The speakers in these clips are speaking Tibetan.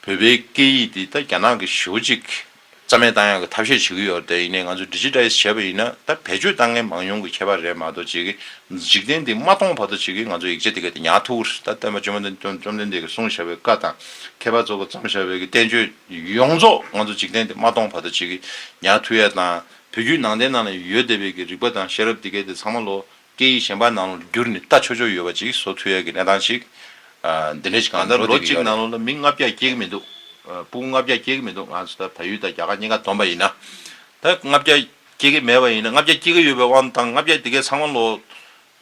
བོད་པའི་སྐད་ཡིག་འདི་ད་རྒྱ་ནག་གི་གཞིས་བོ་གཅིག་གིས་རྩ་མེད་བཏང་ཡག་གི་ཐབས་ཤེས་བྱེད་ཀྱི་ཡོད་རེད་དེ་ཡིན་ནས་ང་ཚོས Digitize བྱས་པ་ཡིན་ན་ད་བེད་སྤྱོད་བཏང་མཁན་མང་ཉུང་གི་ཁྱད་པར་རེད་མ་གཏོགས་བྱེད་ཀྱི་འཇིག་རྟེན་འདི་མ་སྟོང་བར་དུ་བྱེད་ཀྱི་ང་ཚོ་ཡིག་ཆ་འདི་ག་དེ་ཉག་ཐུག་རེད་ད་སྟོན་པ་བཅོམ་ལྡན་བཅོམ་ལྡན་འདས་ཀྱི་གསུང་བྱ་བའི་བཀའ་དང་མཁས་པ་ཚོགས་པ་བརྩམས་བྱ་བའི་གི་བསྟན་བཅོས་ཡོངས་རྫོགས་ང་ཚོ་འཇིག་རྟེན་འདི་མ་སྟོང་བར་དུ་བྱེད་ཀྱི་ཉག་ཐུག་ཡ་དང་བོད་བརྒྱུད་ནང་བསྟན་ནང་ལ་ཡོད་བསྡད་པའི་གི་རིག་པ་དང་ཤེས་རབ་འདི་ག་དེ་ཚང་མ་ལོ་སྐད་ཡིག་གཞན་པ་ནང་ལོ་བསྒྱུར་ནི་ལྟ་ཆོག་ཆོག་ཡོད་པ་ཅིག་བཟོ་ཐུ་ཡ་གི་གནས་སྟངས་ཤིག་འདི་འདྲའི་ཞིག་གང་ལྟར་འགྲོ་ལོ་བསྡད་ཀྱི་གཅིག་ཡོད་ནང་རེད། ལོ་མི་ལྔ་བརྒྱ་སྐྱེལ་གི་མི་འདུག་སྤུན་ལྔ་བརྒྱ་སྐྱེལ་གི་མི་འདུག་ང་ཚོ་ད་ད་ཡུལ་དང་རྒྱ་གར་གཉིས་ཀ་བསྡོམས་པ་ཡིན་ན་ད་ལྔ་བརྒྱ་སྐྱེལ་གི་མེད་པ་ཡིན་ན་ལྔ་བརྒྱ་སྐྱེལ་གི་ཡོད་པའི་དབང་དུ་བཏང་ལྔ་བརྒྱ་དེ་གའི་ཚང་མ་ལོ་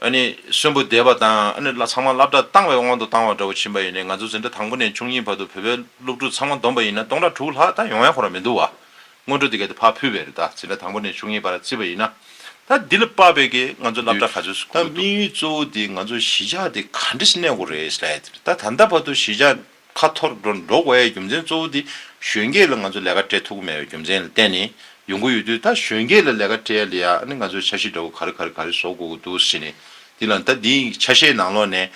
ཨ་ནི་གསོན་པོ་བསྡད་པ་དང་ཨ་ནི་ཚང་མ་བསླབ་གྲྭ་བཏང་བའི་དབང་དུ་བཏང་བ་འདྲ་བོ་ཕྱིན་པ་ཡིན་ནས་ང་ཚོ་འཛིན་གྲྭ་དང་པོ་ནས་བཅུ་གཉིས་བར་དུ་བོད་པའི་སློབ་ཕྲུག་ཚང་མ་བསྡོམས་པ་ཡིན་ན་སྟོང་ཕྲག་དྲུག་ལྷག་ད་ཡོང་ཡ་ཁོ་ར་མི་འདུག་བ། སྔོན་འགྲོ་འདི་ག་དེ་ཕར་ཕུལ་བས་རེད་ད། ཟིན་ན་དང་པོ་ནས་བཅུ་གཉིས་བར་རྩིས་པ་ཡིན་ན། ད་འདི་ལ་དཔག་པའི་གིས་ང་ཚོ་བསླབ་གྲྭ་ག་ཚོད་སུ་གོ་དགོས་འདུག། ད་དམིགས་ཡུལ་གཙོ་བོ་དེ་ང་ཚོ་གཞིས་ཆགས་དེ་ག་འདྲི་སྣེ་གོ་རེད་ཟེར་ཡས་དེ་རེད་ད་ད་ལྟ་བར་དུ་གཞིས་ཆགས་ཁ་འཐོར་འགྲོ་འགྲོ་དགོས་ཡས་རྒྱུ་མཚན་གཙོ་བོ་དེ་གཞོན་སྐྱེས་ལ་ང་ཚོ་ལས་ཀ་སྤྲད་ཐུབ་གི་མེད་པའི་རྒྱུ་མཚན་ལ་བརྟེན་ནས་ཡོང་གི་ཡོད་དུས་ད་གཞོན་སྐྱེས་ལ་ལས་ཀ་སྤྲད་ཡས་ལ་ཡ་ནི་ང་ཚོ་ཆ་ཤས་འདྲ་བོ་ག་རེ་ག་རེ་ག་རེ་བཟོ་དགོས་གི་འདུག་ཟེར་ནས་དེ་ལ་ད་འདི་ཆ་ཤས་ནང་ལོགས་ནས།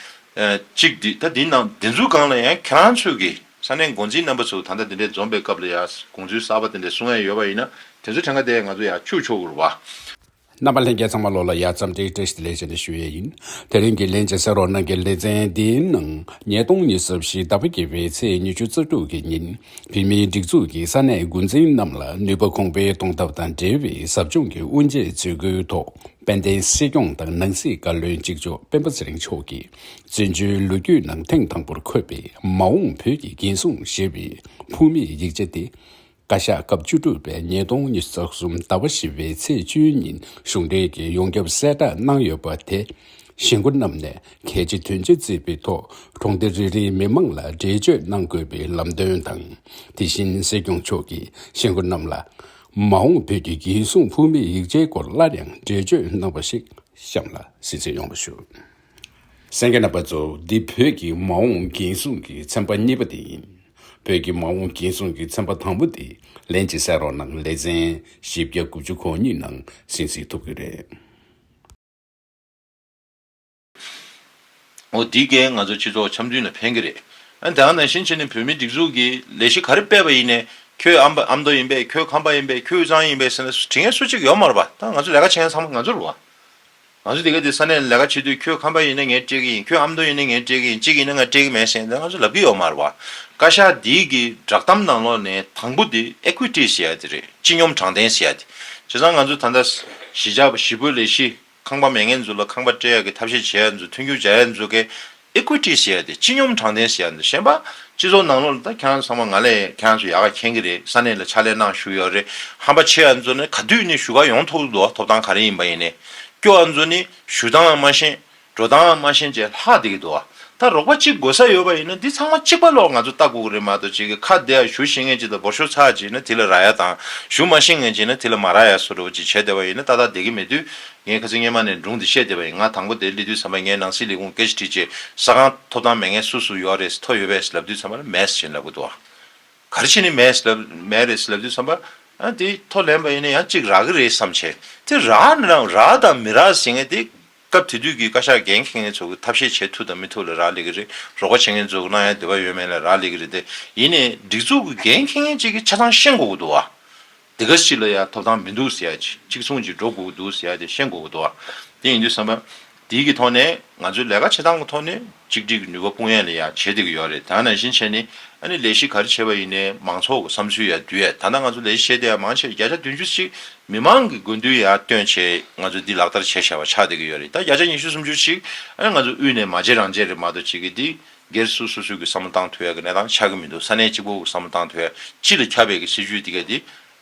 གཅིག་འདི་ད་འདི་ནང་འདི་ཚོའི་སྒང་ལ་ཡང་ཁྱེད་རང་ཚོས་གིས། ས་གནས་འགོ་འཛིན་རྣམ་པ་ཚོས་ད་ལྟ་འདི་འདྲའི་འཛོམས་པའི་སྐབས་ལ་ཡང་དགོངས་ཚུལ་གསར་པ་དེ་འདྲ་གསུང་ཡས་ཡོད་པ་ཡིན་ན་དེ་ཚོའི་ཕྲེང་ཀ་དེ་ང་ཚོ་ཡང་ཁྱུག་ཆོག་གུར་བ། རྣམ་པ་ལྷན་རྒྱས་ཚང་མ་བློ་ལ་ཡར་ཙམ་དྲིལ་དྲིལ་ཞིག་ལས་བྱེད་ནས་ཞུ་ཡས་ཡིན། དེ་རིང་གི་ལན་ཅིག་ཟེར་རོགས་གནང་གི་ལེ་ཚན་འདིའི་ནང་ཉིས་སྟོང་ཉི་ཟབ་བཞི་ཟླ་བ་བརྒྱད་པའི་ཚེས་ཉི་བཅུ་རྩ་དྲུག་གི་ཉིན་བོད་མིའི་སྒྲིག་འཛུགས་ཀྱི་ས་གནས་འགོ་འཛིན་རྣམས་ལ་ནུས་པ་གོང་འཕེལ་གཏོང་ཐབས་དང་འབྲེལ་བའི་ཟབ་སྦྱོང་གི་དབུ་འབྱེད་ཚུལ་སྐུའི་ཐོག་དཔལ་ལྡན་སྲིད་སྐྱོང་དང་ནང་སྲིད་བཀའ་བློན་གཅིག་ལྕོགས་སྤེན་པ་ཚེ་རིང་མཆོག་གིས། བཙན་བྱོལ་ལོ་རྒྱུས་ནང་ཐེངས་དང་པོར་འཁོད་པའི་མ་འོངས་བོད་ཀྱི་འགན་སྲུང་ཞེས་པའི་ཕུགས་མེད་ཡིག་ཆ་དེ། བཀའ་ཤག་སྐབས་བཅུ་དྲུག་པའི་ཉིས་སྟོང་ཉིས་བརྒྱ་རྩ་གསུམ་ཟླ་བ་བཞི་བའི་ཚེས་བཅུའི་ཉིན་གཞུང་འབྲེལ་གྱི་ཡོངས་ཁྱབ་གསལ་བསྒྲགས་གནང་ཡོད་པ་དེ། གཞིས་འགོ་རྣམས་ནས་གལ་ཆེ་དོན་ཆེ་བརྩིས་པའི་ཐོག་གྲོང་སྡེ་རེ་རེའི་མི་མང་ལ་འགྲེལ་བརྗོད་གནང་དགོས་པའི་ལམ་སྟོན་དང། དེ་བཞིན་སྲིད་སྐྱོང་མཆོག་གིས་གཞིས་འགོ་རྣམས་ལ། མ་འོངས་བོད་ཀྱི་འགན་སྲུང་ཕུགས་མེད་ཡིག་ཆའི་སྐོར་སླར་ཡང་འགྲེལ་བརྗོད་གནང་བ་ཞིག་གཤམ་ལ་གཟིགས་འབྱེད་ཡོང་བ་ཞུ། སེང་གེ་རྣམ་པ་གཙོ་བོ་འདི་བོད་ཀྱི་མ་འོངས་འགན་སྲུང་གི་ཚན་པ་གཉིས་པ་དེ་ཡིན། བོད་ཀྱི་མ་འོངས་འགན་སྲུང་གི་ཚན་པ་དང་པོ་དེ་ལན་གཅིག་བསལ་རོགས་གནང་ལེ་ཚན་བཞི་བརྒྱ་དགུ་བཅུ་གོ་གཉིས་ནང་ཟིན་བཟིན་ཐུབ་གི་རེད། འོ་འདི་གས་ང་ཚོ་སྤྱི་ཚོགས་འཆམ་མཐུན་ལ་ཕན་གི་རེད། ཨ་དེའང་ནང་བཞིན་བྱས་ནས་བོད་མི་སྒྲིག་འཛུགས་ཀྱི་ལས་གཞི་ག་རེ་སྤེལ་པ་ཡིན་ནས་ཁྱོད་ཨ་ཨ་མདོ་ཡིན་པས་ཁྱོད་ཁམས་པ་ཡིན་པས་ཁྱོད་དབུས་གཙང་ཡིན་པས་ཟེར་ན་དྲི་ངན་སུ་གཅིག་ཡོད་མ་རེད་པ་ད་ང་ཚོ་ལས་ཀ་བྱེད་མཁན་ཚང་མ་ང་ཚོ་རེད་བ། ང་ཚོ་དེ་ག་དེ་ས་གནས་ལས་ཀ་བྱེད་དུས་ཁྱོད་ཁམས་པ་ཡིན་ན་ངས་སྤྲད་ཀྱི་ཡིན་ཁྱོད་ཨ་མདོ་ཡིན་ན་ངས་སྤྲད་ཀྱི་ཡིན་གཅིག་ཡིན་ན་ང་སྤྲད་ཀྱི་མེད་ཟེར་ནས་ང་ཚོ་ལབ་ཀྱི་ཡོད་མ་རེད་བ། བཀའ་ཤག་འདིའི་གི་བསྒྲགས་གཏམ་ནང་ལོགས་ནས་དང་པོ་དེ Equity ཟེར་ཡ་དེ་རེད་སྤྱི་སྙོམས་དྲང་བདེན་ཟེར་ཡ་དེ། བྱས་ཙང་ང་ཚོ་ད་ལྟ་གཞིས་ཆགས་པ་བཞི་པོ་ལས་གཞིས་ཁང་པ་མེད་མཁན་ཚོ་ལ་ཁང་པ་སྤྲད་ཡ་གི་ཐབས་ཤེས་བྱས་ཡ་ཚོ་མཐུན་འགྱུར་བྱ་ཡ་ཚོ་གི Equity ཞེས་ཏེ་སྤྱི་སྙོམས་དྲང་བདེན་ཞེས་གཞན་པ་སྤྱི་ཚོགས་ནང་ལོགས་ལ་ད་གྱང་ཚང་མ་ང་ལས་གྱང་སུ་ཡག་ག་མཁྱེན་གི་རེད་ས་གནས་ལ་ཕྱག་ལས་གནང་ཞུ་ཡག་རེད་ཧམ་པ་ཆེ་ཨ་ཚོ་ནི་ག་དུས་ནས་ཞུ་ག་ཡོང་ཐོག་ཏུ་ཐོབ་ཐང་ག་རེ་ཡིན་པ་ཡིན་ནས་སྐྱོ་ཨ་ཚོ་ནི་ཞུ་སྟངས་མ་ཤེས་འགྲོ་སྟངས་མ་ཤེས་ཅེས་ལྷག་བསྡད་གི་འདུག་ཨ་ད་རོགས་པ་གཅིག་དགོས་ས་ཡོད་པ་ཡིན་ན་འདི་ཚང་མ་གཅིག་པ་ལོགས་ང་ཚོ་ལྟ་དགོས་གི་རེད་མ་གཏོགས་གཅིག་གི་ཁ་བདེ་ཨ་ཞུ་ཤེས་ངེས་ཅིག་དང་འབོར་ཤོར་ཚར་ཅིག་ཡིན་ན་དེ་ལ་ར་ཡ་དང་ཞུ་མ་ཤེས་ངེས་ཅིག་ཡིན་ན་དེ་ལ་མ་ར་ཡ་སོ་སོ་བ་གཅིག་བྱས་བསྡད་པ་ཡིན་ན་ཏག་ཏག་བསྡད་གི་མེད་དུས་ངའི་ཁ་ཚིག་སྙན་མ་ནས་སྒྲུང་འདི་བཤད་བསྡད་པ་ཡིན་ང་དང་པོ་དེ་གླེ་དུས་ཚང་མས་ངའི་ནང་སྲིད་ལས་ཁུངས་སྐད་ཆ་དྲིས་རྗེས་ས་ཁང་ཐོབ་ཐང་མེད་ངས་སུ་སུ་ཡོའ་རེས་ཐོ་ཡོད་པས་ལབ་དུས་ཚང་མར་མས་བྱིན་ལབ་གི་འདུག་ག་རེ་བྱས་ནས་མས་ལབ་མས་རེས་ལབ་དུས་ཚང་མར་ཨ་དེ་ཐོ་ལེན་པ་ཡིན་ན་ཡང་གཅིག་རག་གི་རེད་བསམ་བྱས་དེ་རག་ནི་རང་རག་དང་མི་རག་ཟེར་ངེས་དེ་སྐབས་དེ་དུས་ཀྱི་བཀའ་ཤག་འགན་འཁེར་མཁན་ཚོ་གི་ཐབས་ཤེས་བྱེད་ཐུབ་དང་མི་ཐུབ་ལ་རག་ལས་གི་རེད་རོགས་པ་བྱེད་མཁན་ཚོ་གི་གནང་ཡ་དེ་བ་ཡོད་མེད་ལ་རག་ལས་གི་རེད་དེ་ཡིན་ནས་སྒྲིག་འཛུགས་ཀྱི་འགན་འཁེར་མཁན་གཅིག་གི་ཆ་ཚང་ཤེས་དགོས་གི་འདུག་ག་དེ་ག་ཞིག་ལ་ཡང་ཐོབ་ཐང་མི་འདུག་ཟེར་ཡ། གཅིག་མཚུངས་ཀྱིས་འགྲོ་དགོས་ཀྱི་འདུག་ཟེར་ཡ་དེ་ཤེས་དགོས་ཀྱི་འདུག་དེ་ཡིན་དུས་བསམ་པ་དེའི་གི་ཐོག་ནས་ང་ཚོས་ལས་ཀ་བྱེད་སྟངས་གི་ཐོག་ནས་གཅིག་སྒྲིལ་གི་ནུས་པ་དཔུང་ཡས་ལ་ཡང་བྱེད་བསྡད་ཀྱི་ཡོད་རེད་དེ་ཡང་ནང་བཞིན་བྱས་ནས་ཨ་ནི་ལས་གཞི་ག་རེ་བྱེད་པ་ཡིན་ནའི་མང་ཚོགས་ཀྱི་བསམ་ཚུལ་ཡང་འདུས་ཡས་ད་ལྟ་ང་ཚོ་ལས་གཞི་བྱས་བསྡད་ཡ་མང་ཆེ་བ་བརྒྱ་ཆ་བདུན་ཅུ་ཅིག་མི་མང་གི་དགོས་འདུན་ཡང་བཏོན་ཆེད་ང་ཚོས་འདི་ལག་བསྟར་བྱས་བྱས་པ་ཆགས་བསྡད་ཀྱི་ཡོད་རེད་ད་བརྒྱ་ཆ་ཉི་ཤུ་སུམ་ཅུ་ཅིག་ཨ་ནི་ང་ཚོ་དབུས་ནས་མ་བྱེད་རང་བྱེད་རེད་མ་གཏོགས་བྱེད་ཀྱི་འདི་སྒེར་སུ་སོ་སོས་ཀྱི་བསམ་བློ་བཏང་ཐོས་ཡ་གི་གནས་སྟངས་ཆགས་ཀྱི་མི་འདུག་ས་གནས་གཅིག་པོ་གི་བསམ་བློ་བཏང་ཐོས་ཡ་སྤྱི་ལ་ཁྱབ་པའི་གི་སྲིད་བྱུས་དེ་ག་དེ་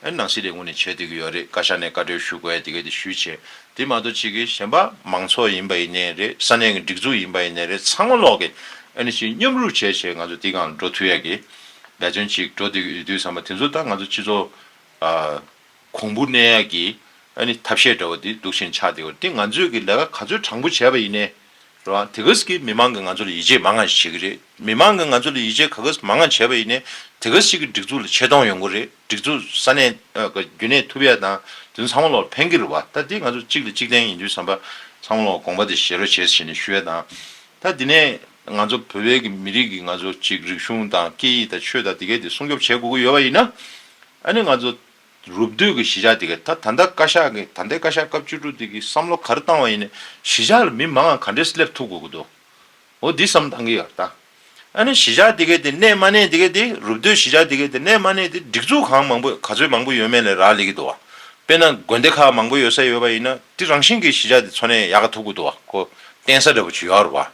ཨ་ནང་སྲིད་ལས་ངོས་ནས་བྱེད་སྡོད་ཀྱི་ཡོད་རེད་བཀའ་ཤག་ནས་བཀའ་འཁྲོལ་ཞུ་དགོས་ཡ་དེ་ག་དེ་ཞུས་བྱས་དེ་མ་གཏོགས་གཅིག་གི་གཞན་པ་མང་ཚོགས་ཡིན་པ་ཡིན་ནའི་རེད་ས་གནས་ཀྱི་སྒྲིག་འཛུགས་ཡིན་པ་ཡིན་ནའི་རེད་ཚང་མ་ལོག་གི་ཨ་ནི་ཞིག་མཉམ་རུབ་བྱས་བྱས་ང་ཚོ་དེ་གའང་འགྲོ་ཐུས་ཡ་གི་འབད་བརྩོན་གཅིག་འགྲོ་སྡོད་ཀྱི་ཡོད་དུས་བསམ་པ་དེ་ཚོ་ལྟར་ང་ཚོ་སྤྱི་ཚོགས་གོང་བུ་གནས་ཡ་གི་ཨ་ནི་ཐབས་ཤེས་འདྲ་བོ་དེ་འདུག་ཆེན་ཆགས་དེ་གོ་དེ་ང་ཚོས་ཀྱི་ལས་ཀ་ག་ཚོད་དྲང་པོ་བྱས་པ་ཡིན་ནའི། རང་དེ་ག་ཟིག་གིས་མི་མང་གིས་ང་ཚོ་ལ་ཡིད་ཆེས་མ་ང་ཞིག་བྱེད་གི་རེད་མི་མང་གིས་ང་ཚོ་ལ་ཡིད་ཆེས་ག་ག་ཟིག་མ་ང་བྱས་པ་ཡིན་ནས་དེ་ག་ཟིག་གིས་སྒྲིག་འཛུགས་ལ་ཆེ་མཐོང་ཡོང་གི་རེད་སྒྲིག་འཛུགས་ས་གནས་རྒྱུན་གནས་ཐུབ་ཡ་དང་དེ་ཚོ་ཚང་མ་ལོག་ཕན་གི་རེད་བ་ད་འདི་ང་ཚོ་གཅིག་ལ་གཅིག་བརྟེན་ཡིན་དུས་བསམ་པ་ཚང་མ་ལོག་དགོངས་པ་དེ་བཞེས་རོགས་བྱས་ཟེར་ནས་ཞུ་ཡ་དང་ད་འདི་ནས་ང་ཚོ་བོད་པའི་གི་མི་རིགས་གི་ང་ཚོ་གཅིག་རིག་གཞུང་དང་སྐད་ཡིག་དང་ཆོས་དང་དེ་ག་དེ་སྲུང་སྐྱོབ་བྱེད་དགོས་གི་ཡོད་བ་ཡིན་ན་ཨ་ནི་ང་ཚོ་རུབ་བསྡུས་ཀྱི་གཞིས་ཆགས་དེ་གས་ད་ད་ལྟ་བཀའ་ཤག་གིས་ད་ལྟའི་བཀའ་ཤག་སྐབས་བཅུ་དྲུག་དེ་གིས་བསམ་བློ་ག་རེ་བཏང་བ་ཡིན་ནས་གཞིས་ཆགས་ལ་མི་མང་ང་ག་འདྲས་སླེབས་ཐུབ་དགོས་ཀྱི་འདུག་འོ་འདི་བསམ་བཏང་གི་ཡོད་ད། ཨ་ནི་གཞིས་ཆགས་དེ་གས་དེ་གནས་མ་གནས་དེ་གས་དེ་རུབ་བསྡུས་གཞིས་ཆགས་དེ་གས་དེ་གནས་མ་གནས་དེ་སྒྲིག་འཛུགས་གང་མང་པོས་ག་ཚོད་མང་པོ་ཡོད་མེད་ལས་རག་ལས་ཀྱི་འདུག་བ། དཔེར་ན་དགོན་སྡེ་ཁག་མང་པོ་ཡོད་ས་ཡོད་པ་ཡིན་ན་དེ་རང་བཞིན་གྱིས་གཞིས་ཆགས་དེ་འཚོ་གནས་ཡག་ག་ཐུབ་ཀྱི་འདུག་བ་ཁོ་བསྟན་ས་འདྲ་པོ་བྱུ་ཡག་རུ་བ།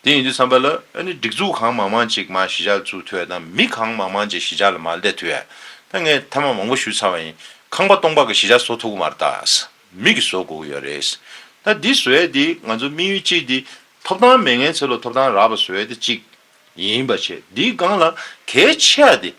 དེ་ཡིན་དུས་བསམ་པ་ལ་ཨ་ནི་སྒྲིག་འཛུགས་གང་མང་མང་ཅིག་མ་གཞི་ཆགས་ཚུལ་ཐོས་དང་མི་གང་མང་མང་ཅིག་གཞི་ཆགས་ལ་མ་བསྡད་དུས་ཨ་ཕ་ངས་མཐའ་མ་མང་པོ་ཞུས་ཚར་བ་ཡིན་ཁང་པ་སྟོང་པ་གི་གཞི་ཆགས་བཟོ་ཐུབ་གི་མ་རེད་ད་མིག་གིས་བཟོ་དགོས་ཀྱི་ཡོད་རེད་ད་འདི་བཟོས་ཡས་འདི་ང་ཚོ་དམིགས་ཡུལ་གཅིག་འདི་ཐོབ་ཐང་མེད་ངན་ཚེ་ལོ་ཐོབ་ཐང་རག་པ་བཟོས་ཡས་འདི་གཅིག་ཡིན་པ་བྱས་འདིའི་སྒང་ལ་གལ་ཆེ་བ་འདི་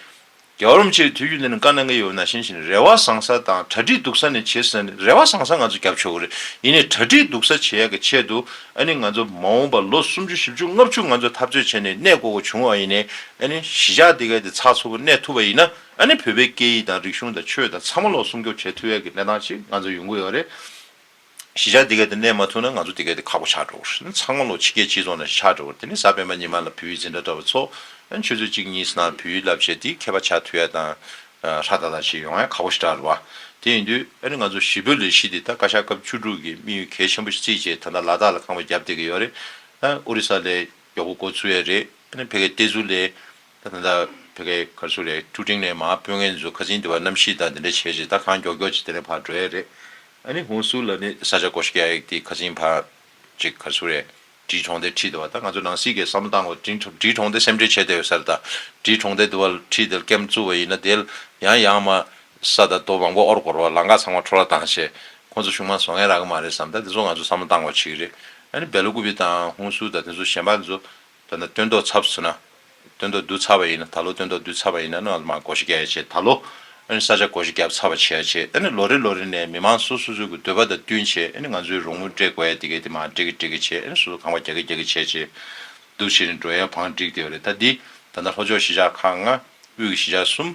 རྒྱ་རོམ་ཆེའི་དུས་རྒྱུན་འདི་ནི་དཀའ་ན་ངལ་ཡོད་ན་ཞེན་ཞིང་རེ་བ་བཟང་ས་དང་གྲ་སྒྲིག་སྡུག་ས་ནི་བྱེད་ས་ནི་རེ་བ་བཟང་ས་ང་ཚོ་རྒྱབ་ཆོག་གི་རེད་ཡིན་ནས་གྲ་སྒྲིག་སྡུག་ས་བྱེད་ཡག་གི་ཆེད་དུ་ཨ་ནི་ང་ཚོ་མ་འོངས་པ་ལོ་སུམ་ཅུ་བཞི་བཅུ་ལྔ་བཅུ་ང་ཚོ་འཐབ་རྩོད་བྱས་ནས་གནས་བསྐོ་དགོས་བྱུང་བ་ཡིན་ནས་ཨ་ནི་གཞིས་ཆགས་འདི་གའི་དེ་ཚགས་ཚུད་པོ་གནས་ཐུབ་པ་ཡིན་ན་ཨ་ནི་བོད་པའི་སྐད་ཡིག་དང་རིག་གཞུང་དང་ཆོས་དང་ཚང་མ་ལོ་སུམ་སྐྱོབ་བྱེད་ཐུབ་ཡག་གི་གནས་སྟངས་ཤིག་ང་ཚོ་ཡོང་གི་ཡོད་རེད། གཞིས་ཆགས་དེ་གའི་དེ་གནས་མ་ཐུབ་ན་ང་ཚོ་དེ་གའི་དེ་ཁག་པོ་ཆགས་འགྲོ་བར། ཚང་མ་ལོ་ཕྱི་རྒྱལ་སྤྱི་ཚོགས་ནང་ཆགས་འགྲོ་བར་དེ་ནི་གཟའ་སྤེན་པ་ཉི་མ་ལ་བུའི་འཛིན་གྲྭ་གྲྭ་བ་ཚོ་ཆུ་ཚོད་གཅིག་གཉིས་སུ་ནང་བུའི་བསླབ་བྱ་དེའི་མཁས་པ་ཆགས་ཐུ་ཡ་དང་ཧྲ་ཏ་ལ་བྱེད་ཡོང་ཡ་ཁག་པོ་ཞིག་གྲགས་ར་བ། དེ་ཡིན་དུས་ཨ་རི་ང་ཚོ་གཞིས་བོད་ལས་གཞིས་དེ་ད་བཀའ་ཤག་སྐབས་བཅུ་དྲུག་གི་དམིགས་ཡུལ་གལ་ཆེན་པོ་ཞིག་རྩིས་བྱས་ད་ལྟ་ལ་དྭགས་ལ་ཁང་པ་བརྒྱབ་བསྡད་ཀྱི་ཡོད་རེད། ཨ་རི་ས་ལས་མགྱོགས་པོ་འགོ་ཚུགས་ཡ་རེད། ཨ་ནི་ཕལ་སྐད་བལྟས་ཚུལ་ལས། ད་ཐེངས་ད་བོད་སྐད་ཀར་ཚུགས་ལས་ཀྲུའུ་ཀྲིང་ནས་མ་དཔོན་ངའི་མཛོད་ཁ་ཟིན་དེ་བ་གནམ་གཤིས་དང་དེ་འདྲ་བྱས་རྗེས་ད་གང་མགྱོགས་མགྱོགས་ཅིག་དེ་ནས་བར་འགྲོ་ཡས་རེད། ཨ་ནི་ཧུང་སུའུ་ལ་ནི་ས་ཆ་གོ་ཤ་རྒྱག་ཡས་དེ་ཁ་ཟིན་བར་ཅིག་གར་ཚུགས་ལས་བྲིས་གྲོང་སྡེར་ཁྲིད་དེ་བ་ད་ང་ཚོ་ནང་སྲིད་ཀས་བསམ་བློ་བཏང་དགོས་བྲིས་གྲོང་སྡེ་སེམས་ཁྲལ་བྱེད་བསྡད་ཡོད་ས་རེད་ད་བྲིས་གྲོང་སྡེ་དེ་བ་ཁྲིད་དེ་ཀེམ་བཙུགས་བ་ཡིན་ན་དེ་ཡང་ཡང་མ་ས་ད་རྡོ་མང་པོ་ཨོར་གོར་བ་ལ་འགག་ཚང་མ་འཕྲོ་བརླག་བཏང་བྱས་ཁོ་ཚོ་ཆུང་མ་བཟོ་ངན་རག་གི་མ་རེད་བསམ་ད་དེ་ཚོ་ང་ཚོ་བསམ་བློ་བཏང་དགོས་བྱེད་ཀྱི་རེད་ཨ་ནི་བལ་ལོ་ཀུ་བི་དང་ཧུང་སུའུ་ད་དེ་ཚོ་གཞན་པ་ཚོ་དོན་དུ་སྟོན་ཐོག་ཚབ་ཟེར་ན། སྟོན་ཐོག་བསྡུ་ཚར་བ་ཡིན་ན་ད་ལོ་སྟོན་ཐོག་བསྡུ་ཚར་བ་ཡིན་ན་ནོ་མ་སྒོ་ཤི་རྒྱག་ཡ་བྱེད་ད་ལོ། ཨཱ་ནི་ས་ཆ་སྒོ་ཤི་རྒྱབ་ཚར་བ་བྱེད་ཡ་བྱེད་ཨཱ་ནི་ལོ་རེ་ལོ་རེ་ནས་མི་མང་སོ་སོ་སོ་གི་འདོད་པ་དང་བསྟུན་བྱེད་ཨཱ་ནི་ང་ཚོའི་རོགས་དངུལ་སྤྲད་དགོས་ཡ་དེ་གས་དེ་མ་སྤྲད་གི་སྤྲད་གི་བྱེད་ཨཱ་ནི་སོ་སོ་གང་བ་རྒྱག་གི་རྒྱག་གི་བྱེད་བྱེད། བསྡུ་བྱེད་ནི་འགྲོ་ཡ་བང་བསྒྲིགས་དེ་བ་རེད་ད་འདི། ད་ལྟ་ལྷོ་ཕྱོགས་གཞིས་ཆགས་ཁག་ལྔ། དབུས་ཀྱི་གཞིས་ཆགས་གསུམ།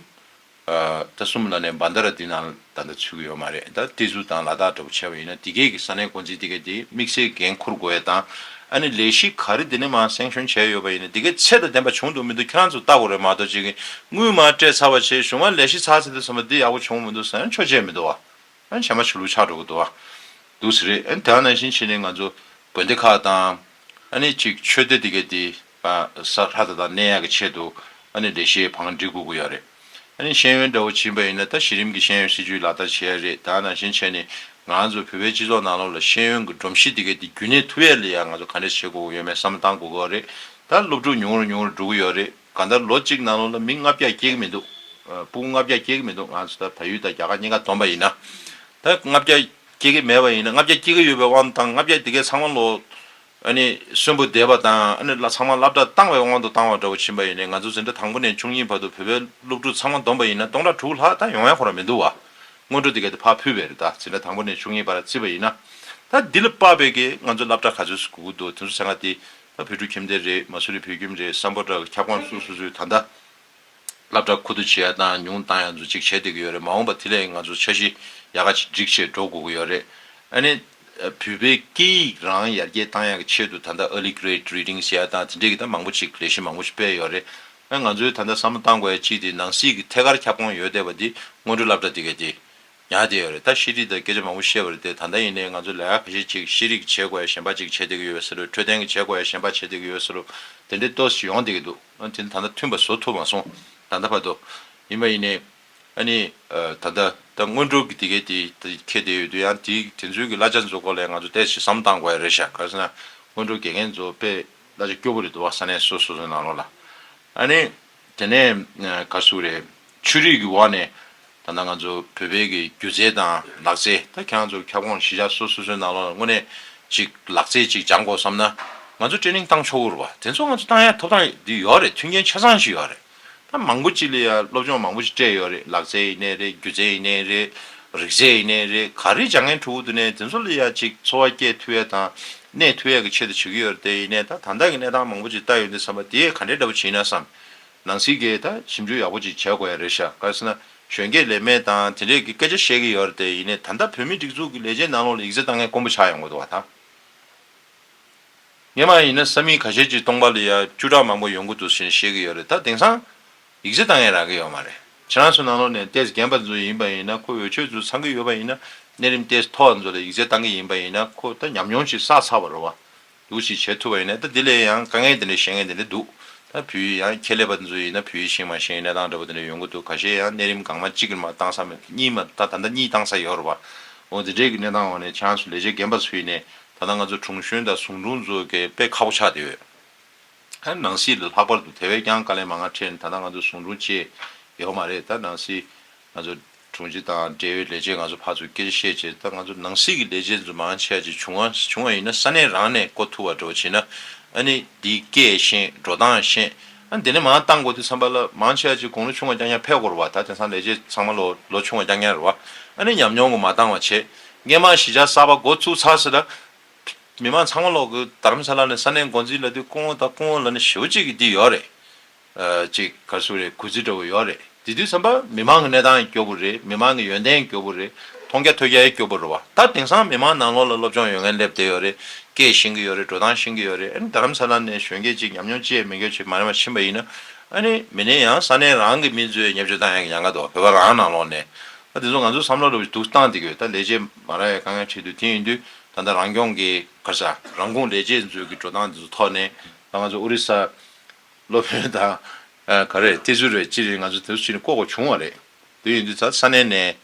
ད་གསུམ་ལ་ནས་འབའ་འདའ་ར་འདི་ན་ད་འདའ་ཚུལ་གྱི་ཡོད་མ་རེད་ད་ཏི་ཛུ་དང་ལ་དྭགས་འདྲ་པོ་བྱས་པ་ཡིན་ན་དེ་གས་ཀྱི་ས་གནས་འགོ་འཛིན་དེ་གས་དེ་དམིགས་བསལ་འགན་འཁུར་དགོས་ཡ་དང་ཨ་ནི་ལས་གཞི་ག་རི་དེ་ནས་མ་སེང་ཤོན་བྱས་ཡོད་པ་ཡིན་ན་དེ་གས་ཚད་དང་ལྡན་པ་བྱུང་འདུག་མི་འདུག་ཁྱེད་རང་ཚོ་ལྟ་དགོས་རེད་མ་གཏོགས་གཅིག་གིས་དངུལ་མ་སྤྲད་ཚར་བ་ཆེད་གཞུང་མ་ལས་གཞི་ཚགས་ཚེད་དུ་ཟིན་པ་འདི་ཡག་པོ་བྱུང་མི་འདུག་ཟེར་ན་ཆོས་བྱས་མི་འདུག་བ། ཨ་ནི་བྱས་མ་ཆུ་ལུག་ཆགས་འགྲོ་གི་འདུག་བ། འདུག་ཟེར་རེད་ཨ་ནི་དེ་ཡང་ནང་བཞིན་བྱས་ནས་ང་ཚོ་དགོན་སྡེ་ཁག་དང་ཨ་ནི་གཅིག་ཆོས་སྡེ་དེ་གས་དེ། ས་ལྷ་དེ་དག་གནས་ཡག་གི་ཆེད་དུ་ཨ་ནི་འདྲེ་ཤེས་བང་སྒྲིག་དགོས་ཀྱི་ཡོད་རེད། ཨ་ནི་ཤེས་ཡོན་འདྲ་བོ་བྱིན་པ་ཡིན་ན་ད་གཞི་རིམ་གྱི་ཤེས་ཡོན་སྲིད་ཇུས་ལག་བསྟར་བྱེད་ཡག་རེད་ད་ནང་བཞིན་བྱས་ནས་ང་ཚོ་བོད་པའི་སྤྱི་ཚོགས་ནང་ལོགས་ལ་ཤེས་ཡོན་གྱི་སྒྲོམ་གཞི་དེ་གའི་དེ་རྒྱུན་གནས་ཐུབ་ཡག་ལས་ཡག་ང་ཚོ་ག་འདྲས་བྱེད་དགོས་ཀྱི་ཡོད་མེད་བསམ་བཏང་དགོས་ཀྱི་རེད་ད་སློབ་ཕྲུག་ཉུང་རུ་ཉུང་རུ་འགྲོ་གི་ཡོད་རེད་གང་ལྟར་ལོ་གཅིག་ནང་ལོགས་ལ་མི་ལྔ་བརྒྱ་སྐྱེ་གི་མི་འདུག་སྤུན་ལྔ་བརྒྱ་སྐྱེ་གི་མི་འདུག་ང་ཚོ་ད་བལ་ཡུལ་དང་རྒྱ་གར་གཉིས་ཀ་བསྡོམས་པ་ཡིན་ན་ད་ལྔ་བརྒྱ་སྐྱེ་གི་མེད་པ་ཡིན་ན་ལྔ་བརྒྱ་སྐྱེ་གི་ཡོད་པའི་དབང་དང་ལྔ་བརྒྱ་དེ་གའི་ཚང་མ་ལོགས་གསོན་པོ་བསྡད་པ་དང་ཚང་མ་བསླབ་གྲྭ་བཏང་བའི་དབང་དུ་བཏང་བ་འདྲ་བོ་ཕྱིན་པ་ཡིན་ནའི་ང་ཚོ་འཛིན་གྲྭ་དང་པོ་ནས་ཆུང་གཉིས་བར་དུ་བོད་པའི་སློབ་ཕྲུག་ཚང་མ་བསྡོམས་པ་ཡིན་ན་སྟོང་ཕྲག་དྲུག་ལྷག་ད་ཡོང་ཡ་ཁོ་ར་མི་འདུག་བ། སྔོན་འགྲོ་འདི་ག་དེ་ཕར་ཕུད་པའི་རེད་ད་འཛིན་གྲྭ་དང་པོ་ནས་ཆུང་གཉིས་བར་བརྩིས་པ་ཡིན་ན། ད་འདི་ལ་དཔག་པའི་གི་ང་ཚོ་བསླབ་གྲྭ་ག་ཚོད་སུ་གུག་གི་འདུག་དེ་ཚོ་ཟེར་ང་དེ། ད་བོད་ཕྲུག་ཁྱིམ་སྡེ་རེད་མ་སུ་རི་བོད་ཁྱིམ་རེད་བསམ་པོ་འདྲ་གི་ཁྱབ་ཁོངས་སུ་སུ་སུ་ད་ད། སླ་བྲག་ཁུ་བསྡུ་བྱེད་ཡག་བཏང་ཡང་ཉུང་བཏང་ཡང་ཛུ་གཅིག་བྱེད་བསྡད་ཀྱི་ཡོད་རེད་མ་འོངས་པ་དེ་ལས་ང་ཚོ་འཆར་གཞི་ཡག་ག་ཅིག་སྒྲིག་ཆེད་འགྲོ་དགོས་ཀྱི་ཡོད་རེད། ཨ་ནེ། བོད་པའི་སྐད་ཡིག་རང་ཡར་རྒྱས་བཏང་ཡག་གི་ཆེད་དུ་ད་ལྟ Early Grade Reading བྱེད་ཡག་བཏང་དེ་འདྲས་ཀྱི་ད་མང་པོ་ཅིག་ལས་གཞི་མང་པོ་ཞིག་སྤེལ་ཡོད་རེད། ཨ་ང་ཚོའི་ད་ལྟ་བསམ་བློ་བཏང་དགོས་ཡག་ཅིག་དེ་ནང་སྲིད་ཀྱི་ཐད་ཀར་ཁྱབ་ཁོངས་ཡོད་བསྡད་པ་དེ་སྔོན་འགྲོ་སླ་བྲག་དེ་གས་དེ་ཉག་བསྡད་ཡོད་རེད་ད་ཤེས་རིག་དང་སྐད་ཆ་མང་པོ་བཤད་པ་རེད་དེ་ད་ལྟ་ཡིན་ནའི་ང་ཚོ་ལས་ཀ་ག་ཤེད་ཅིག་ཤེས་རིག་གི་བྱེད་དགོས་ཡག་གཞན་པ་ཅིག་བྱེད་བསྡད་ཀྱི་ཡོད་བསེ་ལུ་འཕྲོད་བསྟེན་གྱི་བྱེད་དགོས་ཡག་གཞན་པ་བྱེད་བསྡད་ཀྱི་ཡོད་བསེ་ལུ་དེ་འདྲས་ཏོས་ཡོང་བསྡད་ཀྱི་འདུག། ཨ་ནི། ད་ལྟ་མཐུན་པ་བཟོ་ཐུབ་མ་སོང། ད་ལྟ་བར་དུ། ཡིན་མ་ཡིན་ནས། ཨ་ནི། ད་ལྟ། ད་སྔོན་འགྲོ་གི་དེ་གས་དེ་ཁྱེད་དེ་ཡོད་དུས་ཡང་དེ་དེ་ཚུལ་གྱི་གླ་ཆ་འཛོ་དགོས་ལས་ང་ཚོ་ལྟས་ཞིག་བསམ་བཏང་དགོས་ཡ་རེད་ཤག་ག་ཟེར་ན། སྔོན་འགྲོ་དགེ་རྒན་འཛོ་དཔེ་གླ་ཆ་སྐྱོ་པོ་རེད་འདུག་བ་ས་ནས་སོ་སོ་སོ་ནང་ལོག་ལ། ཨ་ནི། དེ་ནས། ག་སུ་རེད། ཆོས་རིག་གི་བར་ནས་ད་ནང་ང་ཚོ་བོད་པའི་གི་སྒྱུ་རྩལ་དང་ལག་རྩལ་ད་ཁྱང་ཚོ་ཁྱབ་ཁོངས་གཞི་ཆགས་སོ་སོ་སོའི་ནང་ལོགས་ལ་དངོས་གནས་ཅིག་ལག་རྩལ་ཅིག་སྦྱང་དགོ་བསམ་ན་ང་ཚོ་ཏྲེ་ནིང་བཏང་ཆོག་གུར་བ་དེ་ཚོ་ང་ཚོ་བཏང་ཡ་ཐོབ་ཐང་དེ་ཡོད་རེད་མཐུན་རྐྱེན་ཆ་ཚང་ཞིག་ཡོད་རེད་ད་མང་པོ་ཅིག་ལ་ཡ་སློབ་སྦྱོང་མང་པོ་ཅིག་སྤྲད་ཡོད་རེད་ལག་རྩལ་ཡིན་ནའི་རེད་སྒྱུ་རྩལ་ཡིན་ནའི་རེད་རིག་རྩལ་ཡིན་ནའི་རེད་ག་རེ་སྦྱང་མཁན་ཁྲོ་བོ་དུ་ནས་དེ་ཚོ་ལ་ཡ་ཅིག་འཚོ་བ་སྐྱེལ་མཐུ་ཡས་དང་གནས་མཐུ་ཡས་གི་ཆེད་དུ་བྱེད་གི་ཡོད་རེད་དེ་ཡིན་ནའི་ད་ད་ལྟ་གི་གནས་སྟངས་མང་པོ་ཅིག་ལྟ་ཡོད་འདི་བསམ་པ་དེ་ག་འདྲའི་འདྲ་པོ་བྱེད་ཡིན་ན་བསམ་ནང་སྲིད་ཀྱི་ད་ཞིབ་འཇུག་ཡག་པོ་ཅིག་བྱ་དགོས་ཡ་རེད་ཤག་ག་ས་ན་གཞོན་སྐྱེས་ལས་མེད་དང་དེ་འདྲས་ཀྱི་སྐད་ཆ་བཤད་ཀྱི་ཡོད་རེད་དེ་ཡིན་ནས་ད་ལྟ་བོད་མི་སྒྲིག་འཛུགས་ཀྱི་ལས་བྱེད་ནང་ལོག་ལ་ཡིག་རྩ་ད་ངས་དཀོན་པོ་ཆགས་ཡོང་གི་འདུག་བ་ད་ངས་མ་ཡིན་ན་ས་མིང་ག་ཤེད་ཅིག་སྟོང་པ་ལ་ཡ་བཅུ་ཕྲག་མང་པོ་ཡོང་གི་འདུག་ཟེར་ནས་བཤད་ཀྱི་ཡོད་རེད་ད་དེང་སང་ཡིག་རྩ་ད་ངས་རག་གི་ཡོད་མ་རེད་ཁྱེད་རང་ཚོ་ནང་ལོག་ནས་ཏེས་རྒན་པ་ཚོ་ཡིན་པ་ཡིན་ན་ཁོ་འོས་ཆོས་ཚོ་ཚང་གི་ཡོད་པ་ཡིན་ན་གནས་རིམ་ཏེས་མཐོ་བ་ཚོ་ལ་ཡིག་རྩ་ད་གི་ཡིན་པ་ཡིན་ན་ཁོ་ད་ཉམས་མྱོང་ཅིག་བསགས་ཚར་བ་རེད་བ་འདུག་ཅེས་བྱེད་ཐུབ་པ་ཡིན་ན་ད་དེ་ལས་ཡང་དཀའ་ངལ་དེ་འདྲའི་ཤེས་ངེས་དེ་འདྲ་འདུག་ད་བུ་ཡིས་ཡང་ཁྱེད་ལས་པ་དེ་ཚོ་ཡིན་ན་བུ་ཡིས་ཤིང་མ་ཤིང་གནས་སྟངས་འདྲ་པོ་དེ་འདྲ་ཡོང་གི་འདུག་ག་ཤེད་ཡང་གནས་རིམ་གང་མ་གཅིག་གིས་མ་བཏང་ས་མེད་གཉིས་མ་ད་ད་ལྟ་གཉིས་བཏང་ས་ཡོད་རེད་པ། འོ་དེ་འདྲའི་གི་གནས་སྟངས་འོག་ནས་བྱང་སུ་ལས་བྱེད་རྒན་པ་ཚོ་ཡིན་ནས་ད་ལྟ་ང་ཚོ་དྲུང་གཞོན་དང་ཟུང་དྲུང་ཚོ་གས་དཔེ་ཁག་པོ་ཆགས་དེ་ཡོད། ད་ནང་སྲིད་ལ་ལྷག་པར་དུ་དེ་བས་ཀྱང་དཀའ་ལས་མ་ང་འཕྲད་ནས་ད་ལྟ་ང་ཚོ་ཟུང་དྲུང་བཅས་ཡོད་མ་རེད་ད་ནང་སྲིད་ང་ཚོ་དྲུང་ཆེ་དང་འབྲེལ་ཡོད་ལས་བྱེད་ང་ཚོ་ཕར་ཚུར་སྐྱེལ་བཤད་བྱེད་ད་ང་ཚོ་ནང་སྲིད་ཀྱི་ལས་བྱེད་ཚོ་མང་ཆེ་བ་ཅིག་བྱུང་བ་བྱུང་བ་ཡིན་ན་ས་གནས་རང་ནས་བསྐོ་ཐུབ་བ་འགྲོ་བྱེད་ན་ཨ་ནི་འདི་སྐད་ཤེས་འགྲོ་སྟངས་ཤེས་ཨ་དེ་ནས་མང་བཏང་དགོས་དུས་འཚམས་པ་ལ་མང་ཆེ་བ་ཅིག་དགུང་ལོ་ཆུང་བ་རྐྱང་རྐྱང་ཕེབས་དགོས་རུ་བ་ད་དེང་སང་ལས་བྱེད་ཚང་མ་ལོ་ལོ་ཆུང་བ་རྐྱང་རྐྱང་རུ་བ་ཨ་ནི་ཉམས་མྱོང་གོ་མ་བཏང་བ་བྱེད་སྔས་མང་གཞིས་ཆགས་གསར་པ་འགོ་བཙུགས་ཚར་ཟེར་ད་མི་མང་ཚང་མ་ལོག་གི་དར་མཚ་ལ་ནས་ས་གནས་འགོ་འཛིན་ལ་དེ་སྐུ་ངོ་ད་སྐུ་ངོ་ལ་ནས་ཞེའུ་གཅིག་གི་འདི་ཡོད་རེད་ཅིག་ག་སུ་རེད་གུས་བརྩི་འདྲ་བོ་ཡོད་རེད་དེ་དུས་བསམ་པ་མི་མང་གི་གནས་སྟངས་སྐྱོ་པོ་རེད་མི་མང་གི་ཡོན་ཏན་སྐྱོ་པོ་རེད་མཐོང་རྒྱ་ཐོས་རྒྱ་ཡི་སྐྱོ་པོ་རེད་བ་ད་དེང་སང་མི་མང་ནང་ལོག་ལ་སློབ་སྦྱོང་ཡོད་མཁན་སླེབས་བསྡད་ཡོད་རེད་སྐད་བཞེངས་གི་ཡོད་རེད་འགྲོ་སྟངས་བཞེངས་གི་ཡོད་རེད་ཨ་ནི་རྡ་རམ་ས་ལ་ནས་གཞོན་སྐྱེས་ཅིག་ཉམས་མྱོང་ཅེས་མི་འགྱོད་ཅིག་མ་རེ་མ་ཕྱིན་པ་ཡིན་ན་ཨ་ནི་མི་ནས་ཡང་ས་གནས་རང་གི་མི་ཚོའི་ཉེ་བརྗོད་ལྟ་ཡང་ཡང་ག་འདུག་བ་བོད་པ་རང་ནང་ལོག་ནས་ཨ་དེ་ཚོ་ང་ཚོའི་བསམ་བློ་ལ་དུག་བཏང་བསྡད་གི་ཡོད་ད་ལས་བྱེད་མ་ར་ཡ་དཀའ་ངལ་འཕྲད་དུས་དེ་ཡིན་དུས་ད་ལྟ་རང་སྐྱོང་གི་ག་ས་རང་ཁུངས་ལས་བྱེད་མཛོད་ཀྱི་འགྲོ་སྟངས་དེ་ཚོ་ཐོག་ནས་ད་ང་ཚོ་ཨོ་རི་ས་སློབ་དཔོན་དང། ག་རེད་བལྟས་ཚུལ་རེད་ཅི་རེད་ང་ཚོ་དེ་ཚོ་ཅི་ནས་ལྐོག་ལྐོག་བྱུང་བ་རེད། དེ་ཡིན་དུས་ད་ས་གནས་ནས།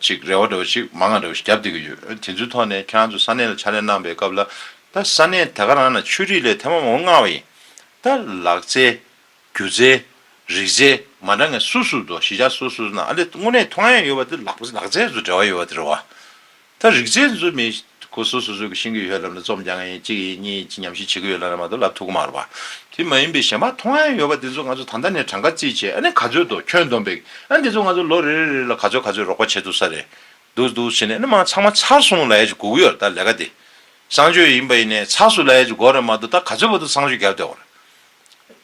ཅིག་རེ་བ་འདྲ་བོ་ཞིག་མ་ངག་འདྲ་བོ་ཞིག་བརྒྱབ་བསྡད་ཀྱི་ཡོད་དེ་ཚོའི་ཐོག་ནས་ཁྱེད་རང་ཚོ་ས་གནས་ལ་ཕྱག་ལས་གནང་པའི་སྐབས་ལ། ད་ས་གནས་དེ་ག་རང་ན་ཆོས་རིག་ལས་ཐེངས་མང་པོ་མངའ་བ་ཡིན། ད་ལག་རྩལ། སྒྱུ་རྩལ། རིག་རྩལ་མ་འདྲ་ངན་སུ་སུ་འདུག་གཞིས་ཆགས་སུ་སུ་ན་ཨ་ལེ་དངོས་གནས་མཐོང་ཡ་ཡོད་པ་དེ་ལག་རྩལ་སུ་འབྲེལ་བ་ཡོད་པ་དེ་རེད་བ། ད་རིག་རྩལ་འཛུལ་མེད་སྒོ་སུ་སུ་སུ་ཀི་ཤིང་གི་ཡོད་ལབ་ན་རྩོམ་རྒྱག་ངེས་ཡིན་གཅིག་ཡིན་གཉིས་ཡིན་ཅི་ཉམས་ཞིག་བྱེད་ཀི་ཡོད་ལབ་ན་མ་གཏོགས་ལབ་ཐུག་གི་མ་རོ་བ། དེ་མ་ཡིན་པའི་གཞན་པ་ཐོང་ཨེ་ཡོད་བ་དེ་ཚོ་ང་ཚོ་ད་ལྟ་ནས་གྲངས་ཀ་རྩིས་བྱེད་ཨ་ནི་ག་ཚོད་འདུག་ཁྱོད་འདོམས་པའི་ཨ་འདི་ཚོ་ང་ཚོ་ལོ་རེ་རེ་རེ་ལ་ག་ཚོད་ག་ཚོད་རོགས་པ་བྱེད་ཐུབ་ས་རེད་འདུག་འདུག་བྱེད་ནས་ཨ་ནི་མང་ཚགས་མ་ཚགས་སུ་མོ་ལ་ཡ་ཅི་སྒུག་གི་ཡོད་རེད་ད་ལས་ཀ་དེ། གསང་སྤྱོད་ཡིན་པ་ཡིན་ནས་ཚགས་སུ་ལ་ཡ་ཅི་དགོས་རེད་མ་གཏོགས་ད་ག་ཚོད་བ་དུ་གསང་སྤྱོད་རྒྱབ་བསྡད་གོ་རེད།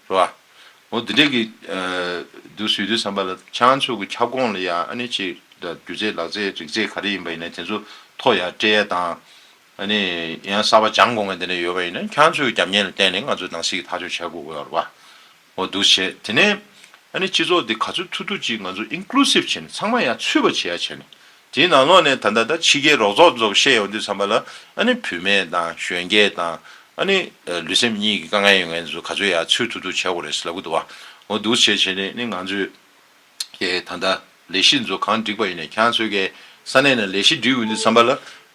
རེད་བ། འོ་དེ་འདྲས་ཀྱི་འདུག་ཟེར་དུས་བསམ་པ་ལ་བྱང་ཆུབ་ཀྱི་ཁྱབ་ཁོངས་ལ་ཡང་ཨ་ནི་ཆེས་སྒྱུ་རྩལ་ལག་རྩལ་རིག་རྩལ་ག་རེ་ཡིན་པ་ཡིན་ན་དེ་ཚོ་ཐོག་ཡར་སྤྲད་དང། ཨ་ནི་ཡང་གསར་པ་སྦྱང་དགོས་ངེས་དེ་འདྲས་ཡོད་པ་ཡིན་ན་བྱང་ཆུབ་ཀྱི་རྒྱབ་གཉེར་ལ་བརྟེན་ནས་ང་ཚོས་ནང་སྲིད་ཀྱི་ཐག་གཅོད་བྱེད་དགོས་རེད་བ། འོ་འདུག་བྱས་དེ་ནས་ཨ་ནི་སྤྱི་ཚོགས་འདི་ག་ཚོད་ཐུབ་ཐུབ་ཅིག་ང་ཚོ Inclusive བྱས་ནས་ཚང་མ་ཡང་ཚུད་པ་བྱས་ཡ་བྱས་ནས་དེའི་ནང་ལོགས་ནས་ད་ལྟ་ད་ཕྱི་རྒྱལ་རོགས་ཚོགས་ཚོགས་བཤད་ཡོང་དུས་འཚམས་པ་ལ་ཨ་ནི་བུད་མེད་དང་གཞོན་སྐྱེས་དང་ཨ་ནི་ལུས་སེམས་གཉིས་ཀྱི་དཀའ་ངལ་ཡོད་མཁན་ཚོ་ག་ཚོད་ཡག་ཚུལ་ཐུག་ཐུག་བྱེད་དགོས་རེད་ལབ་གི་འདུག་བ་འོ་འདུག་བྱས་བྱས་ནས་ནི་ང་ཚོས་ཀྱི་ད་ལྟ་ལས་གཞི་ཚོ་གང་འགྲིག་པ་ཡིན་ནས་ཁྱང་ཚོས་ཀྱི་ས་གནས་ནས་ལས་གཞི་འགྲིག་ཡོང་དུས་འཚམས་པ་ལ་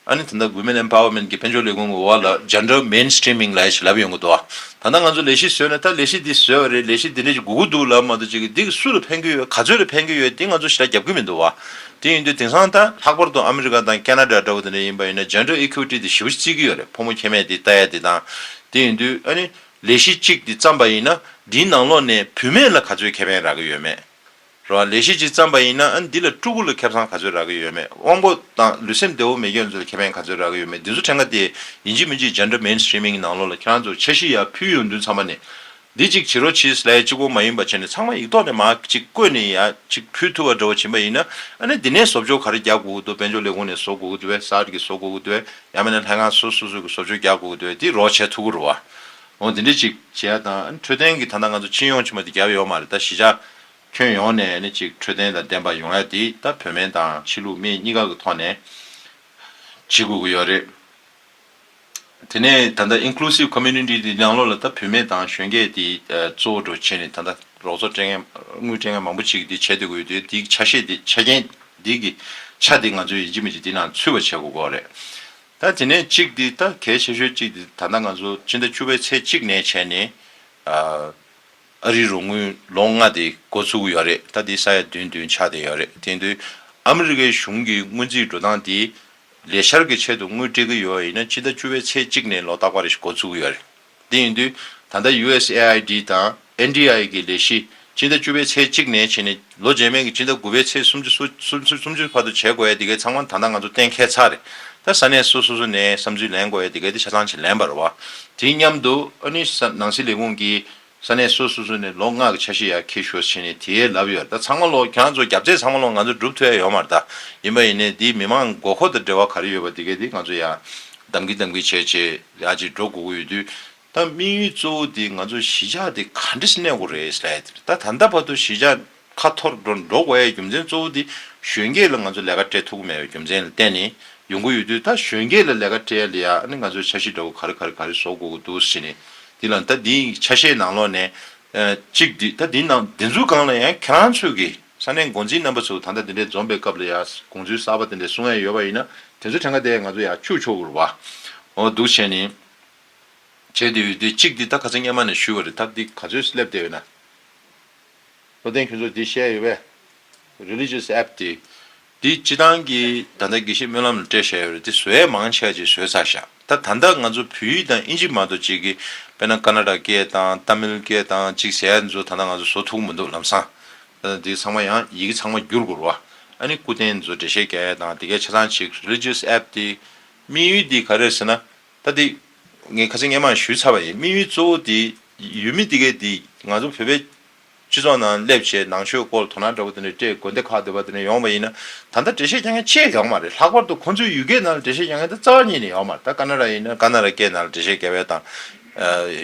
ཨ་ནི་ད་ལྟ Women Empowerment གྱི་དཔལ་འབྱོར་ལས་ཁུངས་ཀྱི་འོག་ལ་སྦྱར་འགྲོ Main Streaming ལ་ཡ་ཞིག་ལབ་ཡོང་གི་འདུག་ད་ལྟ་ང་ཚོ་ལས་གཞི་བཟོས་ནས་ད་ལས་གཞི་འདི་བཟོས་བ་རེད་ལས་གཞི་འདི་འདྲ་ཞིག་དགོས་ཀྱི་འདུག་ལབ་མ་གཏོགས་ཅི་གི་འདི་གི་སུ་ལ་ཕན་གྱི་ཡོད་ག་ཚོད་ལ་ཕན་གྱི་ཡོད་དེ་ང་ཚོ་ཞི་ལ་རྒྱབ་ཀྱི་མི་འདུག་བ་དེ་ཡིན་དུས་དེང་སང་ད་ལྷག་པར་དུ་ཨ་མི་རི་ཀ་དང Canada འདྲ་བོ་དེ་འདྲ་ཡིན་པ་ཡིན་ན་སྦྱར་འགྲོ Equity དེ་ཞི་བོ་ཞིག་བརྩི་གི་ཡོད་རེད་ཕོ་མོ་ཁྱད་མེད་དེ་ལྟ་ཡ་དེ་དང་དེ་ཡིན་དུས་ཨ་ནི་ལས་གཞི་གཅིག་དེ་བརྩམས་པ་ཡིན་ན་དེའི་ནང་ལོགས་ནས་བུད་མེད་ལ་ག་ཚོད་ཁེ་ཕན་རག་གི་ཡོད་མེད་རང་ལས་གཞི་གཅིག་བརྩམས་པ་ཡིན་ན་འདི་ལ་སྤྲུལ་སྐུ་ལ་ཁེབས་ཚང་ག་ཚོད་རག་གི་ཡོད་མེད་དབང་པོ་དང་ལུས་སེམས་བདེ་བོ་མེད་ཁྱོད་ཚོ་ལ་ཁེ་ཕན་ག་ཚོད་རག་གི་ཡོད་མེད་འདི་ཚོ་ཕྲན་ག་དེ་ཡིན་གཅིག་མིན་གཅིག་སྦྱར་འདྲ་མེན་སྟྲིམིང་གི་ནང་ལོག་ལ་ཁྱེད་རང་ཚོར་འཆར་གཞི་ཡར་ཕུལ་ཡོང་དུས་ཚང་མ་ནས་འདི་གཅིག་བྱེད་རོགས་ཕྱིས་ལས་གཅིག་པོ་མ་ཡིན་པ་བྱས་ནས་ཚང་མ་ཡིག་ཐོག་ནས་མ་གཅིག་བཀོད་ནས་ཡར་གཅིག་ཕུལ་ཐུབ་པ་འདྲ་བོ་བྱིན་པ་ཡིན་ན་ནི་འདི་ནས་བཟོ་བཅོག་ག་རེ་རྒྱག་དགོས་ཀྱི་འདུག་དཔལ་འབྱོར་ལས་ཁུངས་ནས་བཟོ་དགོས་ཀྱི་འདུག་བས་གསར་གྱི་བཟོ་དགོས་ཀྱི་འདུག་བས་ཡང་མེད་ན་ལྷན་ཁང་སོ་སོ་སོ་གྱི་བཟོ་བཅོག་རྒྱག་དགོས་ཀྱི་འདུག་བས་དེ་རོགས་བྱས་ཐུབ་ཀྱི་རོགས་ཨོ་འདི་འདྲ་གཅིག་བྱས་ཡ་དང་འཕྲོད་བསྟེན་གྱི་ད་ལྟ་ང་ཚོ་སྤྱི་ཡོངས་ཕྱི་མ་དེ་རྒྱབ་ཡོག་མ་རེད་ད་གཞི་ཆགས། ཁྱོན་ཡོངས་ནས་ནི་གཅིག་འཕྲོད་བསྟེན་དང་ལྡན་པ་ཡོང་ཡ་དེ་ད་བོད་སྨན་དང་ཕྱི་ལུགས་སྨན་གཉིས་ཀ་གི་ཐོག་ནས་བྱེད་དགོས་ཀྱི་ཡོད་རེད། དེ་ནས་ད་ལྟ Inclusive Community དེ་ནང་ལོགས་ལ་ད་བོད་སྨན་དང་གཞོན་སྐྱེས་དེ་གཙོ་བོ་འགྲོ་བྱེད་ནི་ད་ལྟ་རོགས་ཚོགས་སྤྲད་མཁན་དངུལ་སྤྲད་མཁན་མང་པོ་ཅིག་གིས་དེ་བྱེད་སྡོད་དགོས་ཡོད་དེ་དེའི་ཆ་ཤས་དེ་ཆ་རྐྱེན་དེ་གི་ཆ་དེ་ང་ཚོས་ཡིན་གཅིག་མིན་གཅིག་དེ་ནང་ཚུད་པ་བྱེད་དགོས་དགོས་རེད། ད་དེ་ནས་གཅིག་དེ་ད་གལ་ཆེ་ཤོས་གཅིག་དེ་ད་ལྟ་ང་ཚོ་སྤྱི་ཟླ་བཅུ་པའི་ཚེས་གཅིག་ནས་བྱས་ནས། ཨ་རིའི་རོགས་དངུལ་ལོ་ལྔ་དེ་འགོ་བཙུགས་ཡོད་རེད་ད་དེ་ས་ཡ་བདུན་བདུན་ཆགས་བསྡད་ཡོད་རེད་དེ་དུས་ཨ་མི་རི་ཀའི་གཞུང་གི་དངུལ་རྩིས་འགྲོ་སྟངས་དེ་ལས་ཤར་གི་ཆེད་དུ་དངུལ་སྤྲད་ཀྱི་ཡོད་ཡིན་ན་སྤྱི་ཟླ་བཅུ་བའི་ཚེས་གཅིག་ནས་ལོ་རྟག་པ་རེ་ཞིག་འགོ་བཙུགས་ཡོད་རེད་དེ་ཡིན་དུས་ད་ལྟ USAID དང NDI གི་ལས་གཞི་སྤྱི་ཟླ་བཅུ་བའི་ཚེས་གཅིག་ནས་བྱས་ནས། ལོ་རྗེས་མའི་གི་སྤྱི་ཟླ་དགུ་པའི་ཚེས་སུམ་ཅུ་སོ་སུམ་ཅུ་སུམ་ཅུ་བར་དུ་བྱེད་དགོས་ཡས་དེ་གའི་ཚང་མ་ད་ལྟ་ང་ཚོ་གཏན་འཁེལ་ཚར་རེད་ད་ས་གནས་སོ་སོ་སོ་ནས་བསམ་ཚུལ་ལེན་དགོས་ཡས་དེ་གའི་དེ་ཆ་ཚང་བྱེད་ལེན་པར་བ་དེའི་མཉམ་དུ་ཨ་ནུའི་ས་ནང་སྲིད་ལས་ཁུངས་ཀྱི་ས་གནས་སོ་སོ་སོ་ནས་ལོ་ལྔ་གི་ཆ་ཤས་ཡག་ཁེ་ཤོས་བྱེད་ནས་དེ་ཡས་ལབ་ཡོད་རེད་ད་ཚང་མ་ལོ་གྱང་ཚོ་རྒྱབ་རྩེ་ཚང་མ་ལོ་ང་ཚོ་སྒྲུབ་ཐུ་ཡས་ཡོད་མ་རེད་ད་ཡིན་པ་ཡིན་ནས་དེའི་མི་མང་དགོ་ཁོ་དང་འབྲེལ་བ་ག་རེ་ཡོད་པ་དེ་གའི་དེ་ང་ཚོ་ཡ་གདམ་གི་གདམ་གི་བྱས་བྱས་ཡ་ཅིག་འགྲོ་དགོ་གི་ཡོད་དུས། ད་དམིགས་ཡུལ་གཙོ་བོ་དེ་ང་ཚོ་གཞིས་ཆགས་དེ་ག་འདྲི་སྣེ་གོ་རེད་བསལ་ཏེ་ད་ད་ལྟ་བར་དུ་གཞིས་ཆགས་ཁ་འཐོར་འགྲོ་འགྲོ་བའི་རྒྱུ་མཚན་གཙོ་བོ་དེ་གཞོན་སྐྱེས་ལ་ང་ཚོ་ལས་ཀ་སྤྲད་ཐུབ་ཀི་མེད་པའི་རྒྱུ་མཚན་ལ་བརྟེན་ནས་ཡོང་གི་ཡོད་དུས་ད་གཞོན་སྐྱེས་ལ་ལས་ཀ་སྤྲད་ལ་ཡ་ནི་ང་ཚོའི་ཆ་ཤས་འདྲ་བོ་ག་རེ་ག་རེ་ག་རེ་བཟོ་དགོས་ཀི་འདུག་ཟེར་ནས་དེ་ལ་ད་དེའི་ཆ་ཤས་ནང་ལོགས་ནས་གཅིག་དེ་ད་དེའི་ནང་དེ་ཚོའི་སྒང་ལ་ཡང་ཁྱེད་རང་ཚོས་ཀི་ས་གནས་འགོ་འཛིན་རྣམ་པ་ཚོ་ད་ལྟ་དེ་འདྲའི་འཛོམས་པའི་སྐབས་ལ་ཡ་དགོངས་ཚུལ་གསར་པ་དེ་འདྲ་གསུང་ཡ་ཡོད་པ་ཡིན་ན་དེ་ཚོ་ཕྲན་ག་དེ་ང་ཚོ་ཡ་ཕྱུག་ཆོག་གི་རུ་བ་འོ་འདུག་བྱས་ནས། བྱས་ཏེ་ཡོད་དེ་གཅིག་འདི་ད་ག་ཚོད་སྙན་མ་ནས་ཞུས་བ་རེད་ད་འདི་ག་ཚོད་སླེབས་བསྡད་ཡོད་ན། བློ་ལྡན་ཁྱོད་ཚོ་འདི་བཤད་ཡོད་པས། Religious App། དེ་འདི་སྤྱི་བཏང་གི་ད་ལྟ་དགེ་བཤེས་སྨོན་ལམ་ལ་སྤྲད་བཞག་ཡོད་རེད་དེ་བཟོས་ཡས་མང་ཆད་ཅིག་བཟོས་ཚར་ཞག་ད་ད་ལྟ་ང་ཚོ་བོད་ཡིག་དང་དབྱིན་ཇི་མ་གཏོགས་གཅིག་གི་དཔེར་ན Canada སྐད་དང Tamil སྐད་དང་གཅིག་བཟས་ཡས་འདི་ཚོ་ད་ལྟ་ང་ཚོ་བཟོ་ཐུག་མི་འདུག་ལམ་སང་ད་ད་འདི་ཚང་མ་ཡང་ཡི་གེ་ཚང་མ་བསྒྱུར་དགོས་རུ་བ་ཨ་ནི་སྐུ་རྟེན་འདི་ཚོ་འགྲེལ་བཤད་རྒྱ་ཡས་དང་དེ་གས་ཆ་ཚང་ཅིག Religious App། དེ་དམིགས་ཡུལ་འདི་ག་རེད་ཟེར་ན་ད་དེ། ངས་ཁ་ཚིག་སྙན་མང་ཞུས་ཚར་བ་ཡིན་དམིགས་ཡུལ་གཙོ་བོ་དེ། ཡུལ་མི་འདི་གའི་དེ་ང་ཚོ་བོད་པའི། སྤྱི་ཚོགས་ནང་སླེབས་ཆེད་ནང་ཆོས་སྐོར་དོ་སྣང་འདྲ་བོ་དེ་འདྲ་སྤྲད་དགོས་འདེ་ཁག་འདོད་པ་དེ་འདྲ་ཡོང་བ་ཡིན་ན། ད་ལྟ་འགྲེལ་བཤད་རྒྱག་མཁན་ཅེས་ཡོང་མ་རེད་ལྷག་པར་དུ་ཁོང་ཚོའི་ཡུལ་སྐད་ནང་ལ་འགྲེལ་བཤད་རྒྱག་མཁན་ད་རྩ་བ་ཉིད་ནས་ཡོང་མ་རེད་ད་ཀ་ན་ར་ཡིན་ན་ཀ་ན་ར་སྐད་ནང་ལ་འགྲེལ་བཤད་རྒྱག་བའི་དང།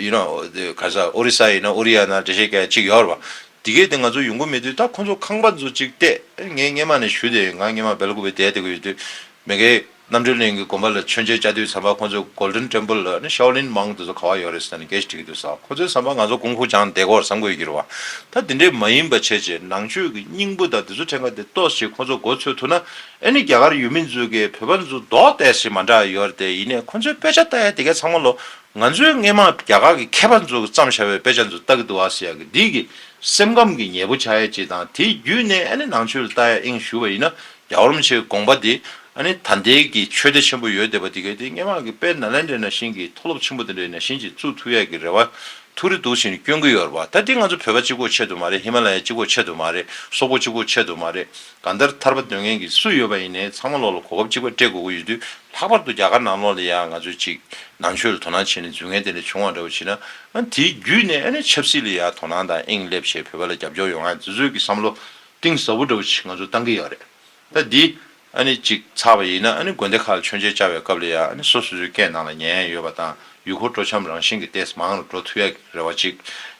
ཡུ་ནོ། ག་ས་ཨོ་རི་ས་ཡིན་ན་ཨོ་རི་ཡ་ནང་འགྲེལ་བཤད་རྒྱག་ཅིག་ཡོད་རེད་པ། དེ་གའི་དེ་ང་ཚོ་ཡོང་གི་མེད་དུས་ད་ཁོང་ཚོ་ཁང་པ་ཚོ་ཅིག་སྤྲད་ངས་སྙན་མང་ནས་ཞུས་དེ་ཡིན་གང་སྙན་མང་སྦེལ་ཀོབ་པའི་དེ་ལྟ་གི་ཡོད་དུས། མེ་གའི། རྣམ་གྲོལ་གླིང་གི་དགོན་པ་ལ་མཆོད་མཇལ་བཅའ་དུས་ཟམ་པ་ཁོ་ཚོས Golden Temple ནི Shaolin Monk དེ་ཚོ་ག་བ་ཡོད་རེད་ཟེར་ནས་འགེལ་བྱེད་ཀྱི་འདུག་ས་ཁོ་ཚོའི་ཟམ་པ་ང་ཚོ་གུང་ཧུ་ཅང་འདས་གོར་ཟམ་དགོས་གྱུར་བ་ད་དེ་འདྲས་མ་ཡིན་པ་བྱས་རྗེས་ནང་ཆོས་ཀྱི་སྙིང་པོ་དང་དེ་ཚོ་ཕྲན་ག་དེ་གཏོགས་ཤིག་ཁོ་ཚོ་འགོ་ཚོས་ཐུག་ན་ཨེ་ནི་རྒྱ་གར་ཡུལ་མི་ཚོས་ཀྱི་བོད་པ་ཚོ་རྡོག་གཏད་ཞིག་མ་འདྲ་ཡོད་རེད་ཡིན་ནས་ཁོ་ཚོའི་དཔེ་ཆ་ལྟ་ཡ་དེ་གས་ཚང་མ་ལོ་ང་ཚོའི་སྔས་མ་རྒྱ་གར་གྱི་མཁས་པ་ཚོ་བརྩམས་ཤ་བའི་དཔེ་ཆ་ཚོ་ལྟ་གི་འདུག་ཨ་ཟེར་ཡ་གི་འདི་གི་སེམས་ཁམས་ཀྱི་ཉེས་པོ་ཆགས་ཡ་ཅིག་དང་དེའི་རྒྱུད་ནས་ཨེ་ནི་ནང་ཆོས་ལྟ་ཡ་ཨིང་ཞུ་བ་ཡིན་ན་རྒྱ་རོམ་ཆེའི་དགོངས་པ་འདི་ཨ་ནི་ད་ལྟའི་གི་ཆོས་སྡེ་ཆེན་པོ་ཡོད་བསྡད་པ་འདི་གའི་དེ་སྙན་ངག་གི་དཔེ་ན་ལན་འདྲེ་ན་ཤིང་གི་མཐོ་སློབ་ཆེན་པོ་དེ་འདྲའི་ན་ཤིང་གཅིག་བཙུགས་ཐུབ་ཡས་གི་རེ་བ་ཐུགས་རེ་འདུག་བཞིན་སྐྱོན་གི་ཡོད་རེད་པ་ད་འདི་ང་ཚོ་བོད་པ་གཅིག་པོ་ཆེད་དུ་མ་རེད་ཧི་མ་ལ་ཡ་གཅིག་པོ་ཆེད་དུ་མ་རེད་སོག་པོ་གཅིག་པོ་ཆེད་དུ་མ་རེད་གང་ལྟར་ཐར་པ་འདོན་མཁན་གི་སུ་ཡོད་པ་ཡིན་ནའི་ཚང་མ་ལོག་ལ་གོ་སྐབས་གཅིག་པ་སྤྲད་དགོས་གི་ཡོད་དུས་ལྷག་པར་དུ་རྒྱ་གར་ནང་ལོག་ལ་ཡང་ང་ཚོའི་གཅིག་ནང་ཆོས་ལ་དོ་སྣང་བྱེད་ནས་རྫུན་ངན་དེ་འདྲ་བྱུང་བ་འདྲ་བོ་བྱེད་ན་ཨ་ནི་དེའི་བརྒྱུད་ནས་ཨ་ནི་ཆབ་སྲིད་ལ་ཡང་དོ་སྣང་དང་དབྱིངས་སླེབས་བྱས་བོད་པ་ལ་རྒྱབ་སྐྱོར་ཡོང་ཨ་ནི་དེ་ཚོའི་གི་བསམ་བློ་གཏིང་ཟབ་པོ་འདྲ་བོ་ཞིག་ང་ཚོ་གཏང་གི་ཡག་རེད་ད་འདི་ཨ་ནི་ཅིག་ཚགས་པ་ཡིན་ན་ཨ་ནི་དགོན་སྡེ་ཁག་ལ་མཆོད་མཇལ་བཅར་བའི་སྐབས་ལ་ཡ་ཨ་ནི་སོ་སོ་སོའི་སྐད་ནང་ལ་ཉན་ཡས་ཡོད་པ་དང་ཡུལ་སྐོར་སྤྲོ་འཆམ་རང་བཞིན་གྱི་ལྟས་མང་རུ་འགྲོ་ཐུབ་ཡག་རེ་བ་ཅིག་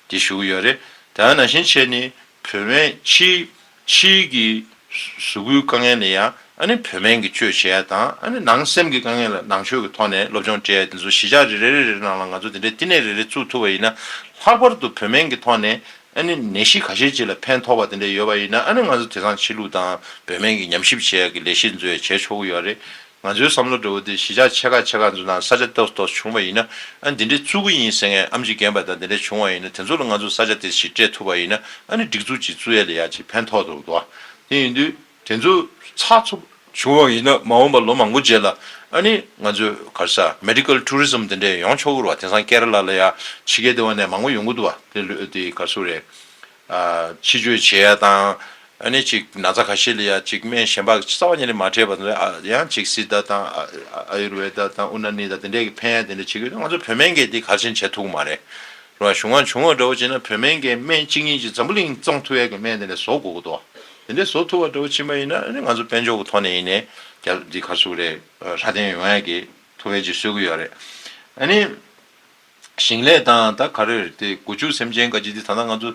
འདི་ཞུ་གི་ཡོད་རེད་ད་ཡང་ན་བཞིན་ཆེ་ནི་བོད་སྨན་ཕྱིའི་ཕྱིའི་གི་གཟུགས་སྐུའི་དཀའ་ངལ་ལ་ཡ་ཨ་ནི་བོད་སྨན་གྱི་བཅོས་བྱས་ཡ་དང་ཨ་ནི་ནང་སེམས་གྱི་དཀའ་ངལ་ལ་ནང་ཆོས་གྱི་ཐོག་ནས་སློབ་སྦྱོང་སྤྲད་ཡ་འདི་ཚོ་གཞིས་ཆགས་རེ་རེ་རེ་རེ་ནང་ལ་ང་ཚོ་འདི་འདྲའི་བསྟི་གནས་རེ་རེ་བཙུགས་ཐུབ་པ་ཡིན་ན་ལྷག་པར་དུ་བོད་སྨན་གྱི་ཐོག་ནས་ཨ་ནི་ནད་གཞི་ག་ཤེད་ཅིག་ལ་ཕན་ཐོག་པ་དེ་འདྲ་ཡོད་པ་ཡིན་ན་ཨ་ནི་ང་ཚོ་དེ་སང་ཕྱི་ལུགས་དང་བོད་སྨན་གྱི་ཉམས་ཞིབ་བྱེད་ཡག་གི་ལས་གཞི་འཛུ་ཡ་བྱས་ཆོག་གི་ཡོད་རེད་ང་ཚོའི་བསམ་བློ་འདྲ་བོ་དེ་གཞི་ཆགས་ཆེ་ཁག་ཆེ་ཁག་འཛུ་དང་ས་ཆ་ཏོག་ཏོག་བྱུང་བ་ཡིན་ན་ཨ་འདི་འདྲའི་བཙུ་གུ་ཡིན་ཟེར་ངས་ཨམ་ཅི་རྒན་པ་དང་དེ་འདྲ་བྱུང་བ་ཡིན་ན་དེ་ཚོ་ལ་ང་ཚོ་ས་ཆ་དེ་ཞིག་སྤྲད་ཐུབ་པ་ཡིན་ན་ཨ་ནི་སྒྲིག་འཛུགས་ཅིག་བཙུ་ཡ་ལས་ཡག་ཅིག་ཕན་ཐོག་ཏུ་འདུག་དེ་ཡིན་དུས། དེ་ཚོ་ཚགས་ཚུགས་བྱུང་བ་ཡིན་ན་མ་འོངས་པ་ལོ་མང་པོ་རྗེས་ལ་ཨ་ནི་ང་ཚོས་གར་ས Medical Tourism དེ་འདྲས་ཡོང་ཆོག་གི་རུ་བ་དེང་སང Kerala ལ་ཡ་ཕྱི་རྒྱལ་དེ་བ་ནས་མང་པོ་ཡོང་གི་འདུག་བ་དེ་ལོས་དེ་གར་སོ་རེད། ཕྱི་བཅོས་བྱེད་ཡ་དང་ཨ་ནི་ཅིག་ན་ཚ་ཁ་ཤས་ལ་ཡ་ཅིག་སྨན་གཞན་པ་རྩ་བ་ཉིད་ནས་མ་འཕྲད་པ་དེ་ཡང་ཅིག Siddha དང Ayurveda དང Unani དང་དེ་འདྲས་ཀྱི་ཕན་ཡ་དེ་འདྲས་བྱེད་གི་ཡོད་ན་ང་ཚོ་བོད་སྨན་འགས་དེ་གར་ཆེན་བྱེད་ཐུག་གི་མ་རེད། རུ་བ་གཞུང་ང་བྱུང་བ་འདྲ་བོ་བྱེད་ན་བོད་སྨན་འགས་སྨན་གཅིག་གཉིས་ཅིག་འཛམ་བུ་གླིང་གཙང་ཐུ་ཡ་གི་སྨན་དེ་འདྲས་བཟོ་དགོས་གི་འདུག་བ། དེ་འདྲའི་བཟོ་ཐུབ་པ་ལྟ་བུ་ཕྱིན་པ་ཡིན་ན་ང་ཚོ་དཔལ་འབྱོར་གྱི་ཐོག་ནས་ཡིན་ནའི་འདི་ག་སུ་རེད་ཧྲ་བསྟན་ཡོང་ཡ་གི་ཐུ་བེ་ཅིག་གསོད་གི་ཡོད་རེད་ཨ་ནི། ཞིང་ལས་དང་ད་ག་རེར་དེ་དགུ་བཅུ་སེམས་ཅན་ཀ་ཅིག་དེ་ད་ང་ཚོ་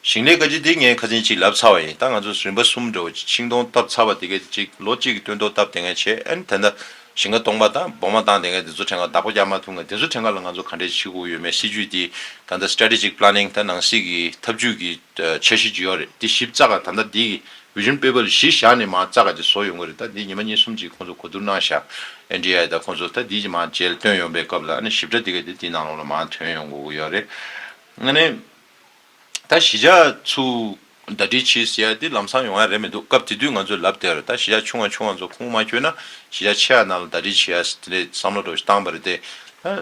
ཞིང་ལས་ཀ་ཅིག་དེ་ངའི་ཁ་ཟིན་ཅིག་ལབ་ཚར་བ་ཡིན་ད་ང་ཚོ་རིམ་པ་གསུམ་འགྲོ་ཆིང་སྟོང་བཏབ་ཚར་བ་དེ་ག་ཅིག་ལོ་གཅིག་གི་སྟོན་ཐོག་བཏབ་དེ་ངས་བྱས་ཨ་ནི་ད་ད་ཞིང་ཁ་སྟོང་པ་དང་སྦོ་མ་བཏང་དེ་ངས་དེ་ཚོ་ཕྲན་ག་བདག་པོ་རྒྱག་མ་ཐུབ་ངས་དེ་ཚོ་ཕྲན་ག་ལ་ང་ཚོ་ག་འདྲའི་ཕྱི་གོ་ཡོད་མེད་སྲིད་ཇུས་དེ་ད་ད strategic planning ད་ནང་སྲིད་ཀྱི་འཐབ་ཇུས་ཀྱི། འཆར་གཞི་བརྗོད་ཡག་རེད་དེ་ཞིབ་རྩ་ག་ད་ལྟ་འདི་གི vision paper ལ་གཞི་བཞག་ནས་མ་རྩ་ག་དེ་བཟོ་ཡོང་གི་རེད་ད་འདི་ཉི་མ་གཉིས་གསུམ་གཅིག་ཁོང་ཚོ་གོ་བསྡུར་གནང་ཤག NDI དང་ཁོང་ཚོ་ད་འདི་གཅིག་མ་མཇལ་བསྟོན་ཡོང་པའི་སྐབས་ལ་ཨ་ནི་ཞིབ་ཕྲ་དེ་ག་དེ་འདི་ནང་ལོག་ལ་མ་ཐོན་ཡོང་དགོས་གི་ཡོག་རེད་ཨ་ནི་ད་གཞི་བྱ་ཚུལ་ཟླ་སྒྲིལ་བྱས་ཟེར་ཡག་དེ་ལམ་སང་ཡོང་ཡག་རེད་མི་འདུག་སྐབས་དེ་དུས་ང་ཚོས་ལབ་དེར་ད་གཞི་བྱ་ཆུང་བ་ཆུང་བ་ཚོ་ཁུངས་མ་འཁྱོལ་ན་གཞི་བྱ་ཆེ་བ་རྣམས་ལ་ཟླ་སྒྲིལ་བྱས་ཡག་དེ་འདྲའི་བསམ་བློ་འགྲོ་བཞིན་བཏང་པ་རེད་དེ་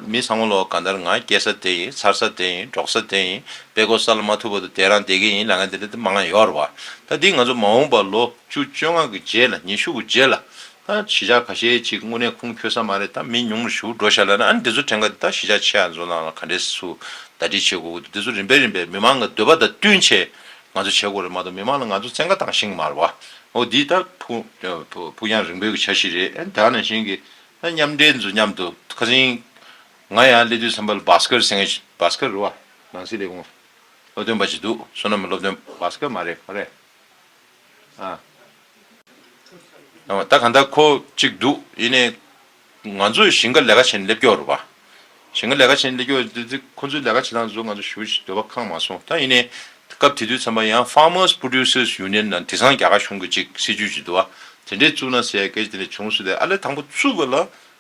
མི་ཚང་མ་ལོ་ག་འདར་ང་སྐྱེ་ས་དེ་ཡིན་འཚར་ས་དེ་ཡིན་འབྲོག་ས་དེ་ཡིན་དཔེ་གོ་ས་ལ་མ་ཐུག་པ་དུ་དེ་རང་དེ་གི་ཡིན་ལ་ང་དེ་འདྲ་དེ་མ་ང་ཡོར་བ་ད་འདི་ང་ཚོ་མ་འོངས་པ་ལོ་བཅུ་བཅོ་ལྔ་གི་རྗེས་ལ་ཉི་ཤུ་གི་རྗེས་ལ་ད་གཞིས་ཆགས་ག་ཤེད་ཅིག་དངོས་གནས་ཁུངས་འཁྱོལ་ས་མ་རེད་ད་མི་ཉུང་རུ་ཞུགས་འགྲོ་ཤ་ལ་ན་ཨ་ནི་འདི་ཚོ་དྲན་ག་འདི་ད་གཞིས་ཆགས་ཆེ་ཡ་ཚོ་ནང་ལ་ག་འདྲེ་སུ་ད་འདྲི་བྱེད་དགོ་གི་འདུག་འདི་ཚོ་རིམ་པས་རིམ་པས་མི་མང་གི་འདོད་པ་ད་བསྟུན་ཆེད་ང་ཚོ་བྱེད་དགོ་རེད་མ་གཏོགས་མི་མང་ལ་ང་ཚོ་བཙན་བཀའ་བཏང་ཤིང་མ་རེད་བ་འོ་འདི་ད་ཕུགས་རྒྱང་རིང་པོའི་གི་བྱ་ཞིག་རེད་ཨ་ནི་ད་ནང་བཞིན་གི་མཉམ་འབྲེལ་འདི་ཚོ་མཉམ་དུ་ཁ་ཟིང། ང་ཡང་སླེབས་དུས་བསམ་པར Bhaskar སེང་གེ། Bhaskar རུ་བ། ནང་སྲིད་ལས་ཁུངས། སློབ་སྟོན་པ་ཞིག་འདུག་བསོད་ནམས་སློབ་སྟོན Bhaskar མ་རེད་མ་རེད། ཨ། ད་གང་ལྟར་ཁོ་གཅིག་འདུག་ཡིན་ནའི། ང་ཚོས་ཞིང་ཁ་ལས་ཀ་བྱས་ནས་སླེབས་སྐྱོར་རུ་བ། ཞིང་གི་ལས་ཀ་བྱེད་ནས་སྐྱོ། ཁོ་ཚོའི་ལས་ཀ་བྱེད་སྟངས་དེ་ཚོ་ང་ཚོ་ཞུ་འདོད་པ་ཁག་མ་སོང་ད་ཡིན་ནའི་སྐབས་དེ་དུས་མཚམས་པ་ཡང Farmers Producers Union ནང་དེ་སང་རྒྱ་གར་གཞུང་གི་ཅིག་སྲིད་ཇུས་ཇི་འདུག་བ་དེ་འདྲས་བཙུགས་ན་ཟེར་ཡ་གེ་དེ་འདྲས་བྱུང་སུ་ལས་ཨ་ལས་དང་པོ་བཙུགས་པ་ལ་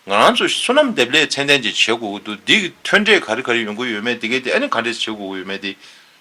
ང་རང་ཚོ་སོ་ནམ་འདེབས་ལས་ཚན་ལྡན་ཅིག་བྱེད་དགོས་ཀྱི་འདུག་འདིའི་ཐོན་འབྲས་ག་རི་ག་རི་ཡོང་གི་ཡོད་མེད་དེ་གས་དེ་ཨ་ནི་ག་འདྲས་བྱེད་དགོས་ཀྱི་ཡོད་མེད་དེ་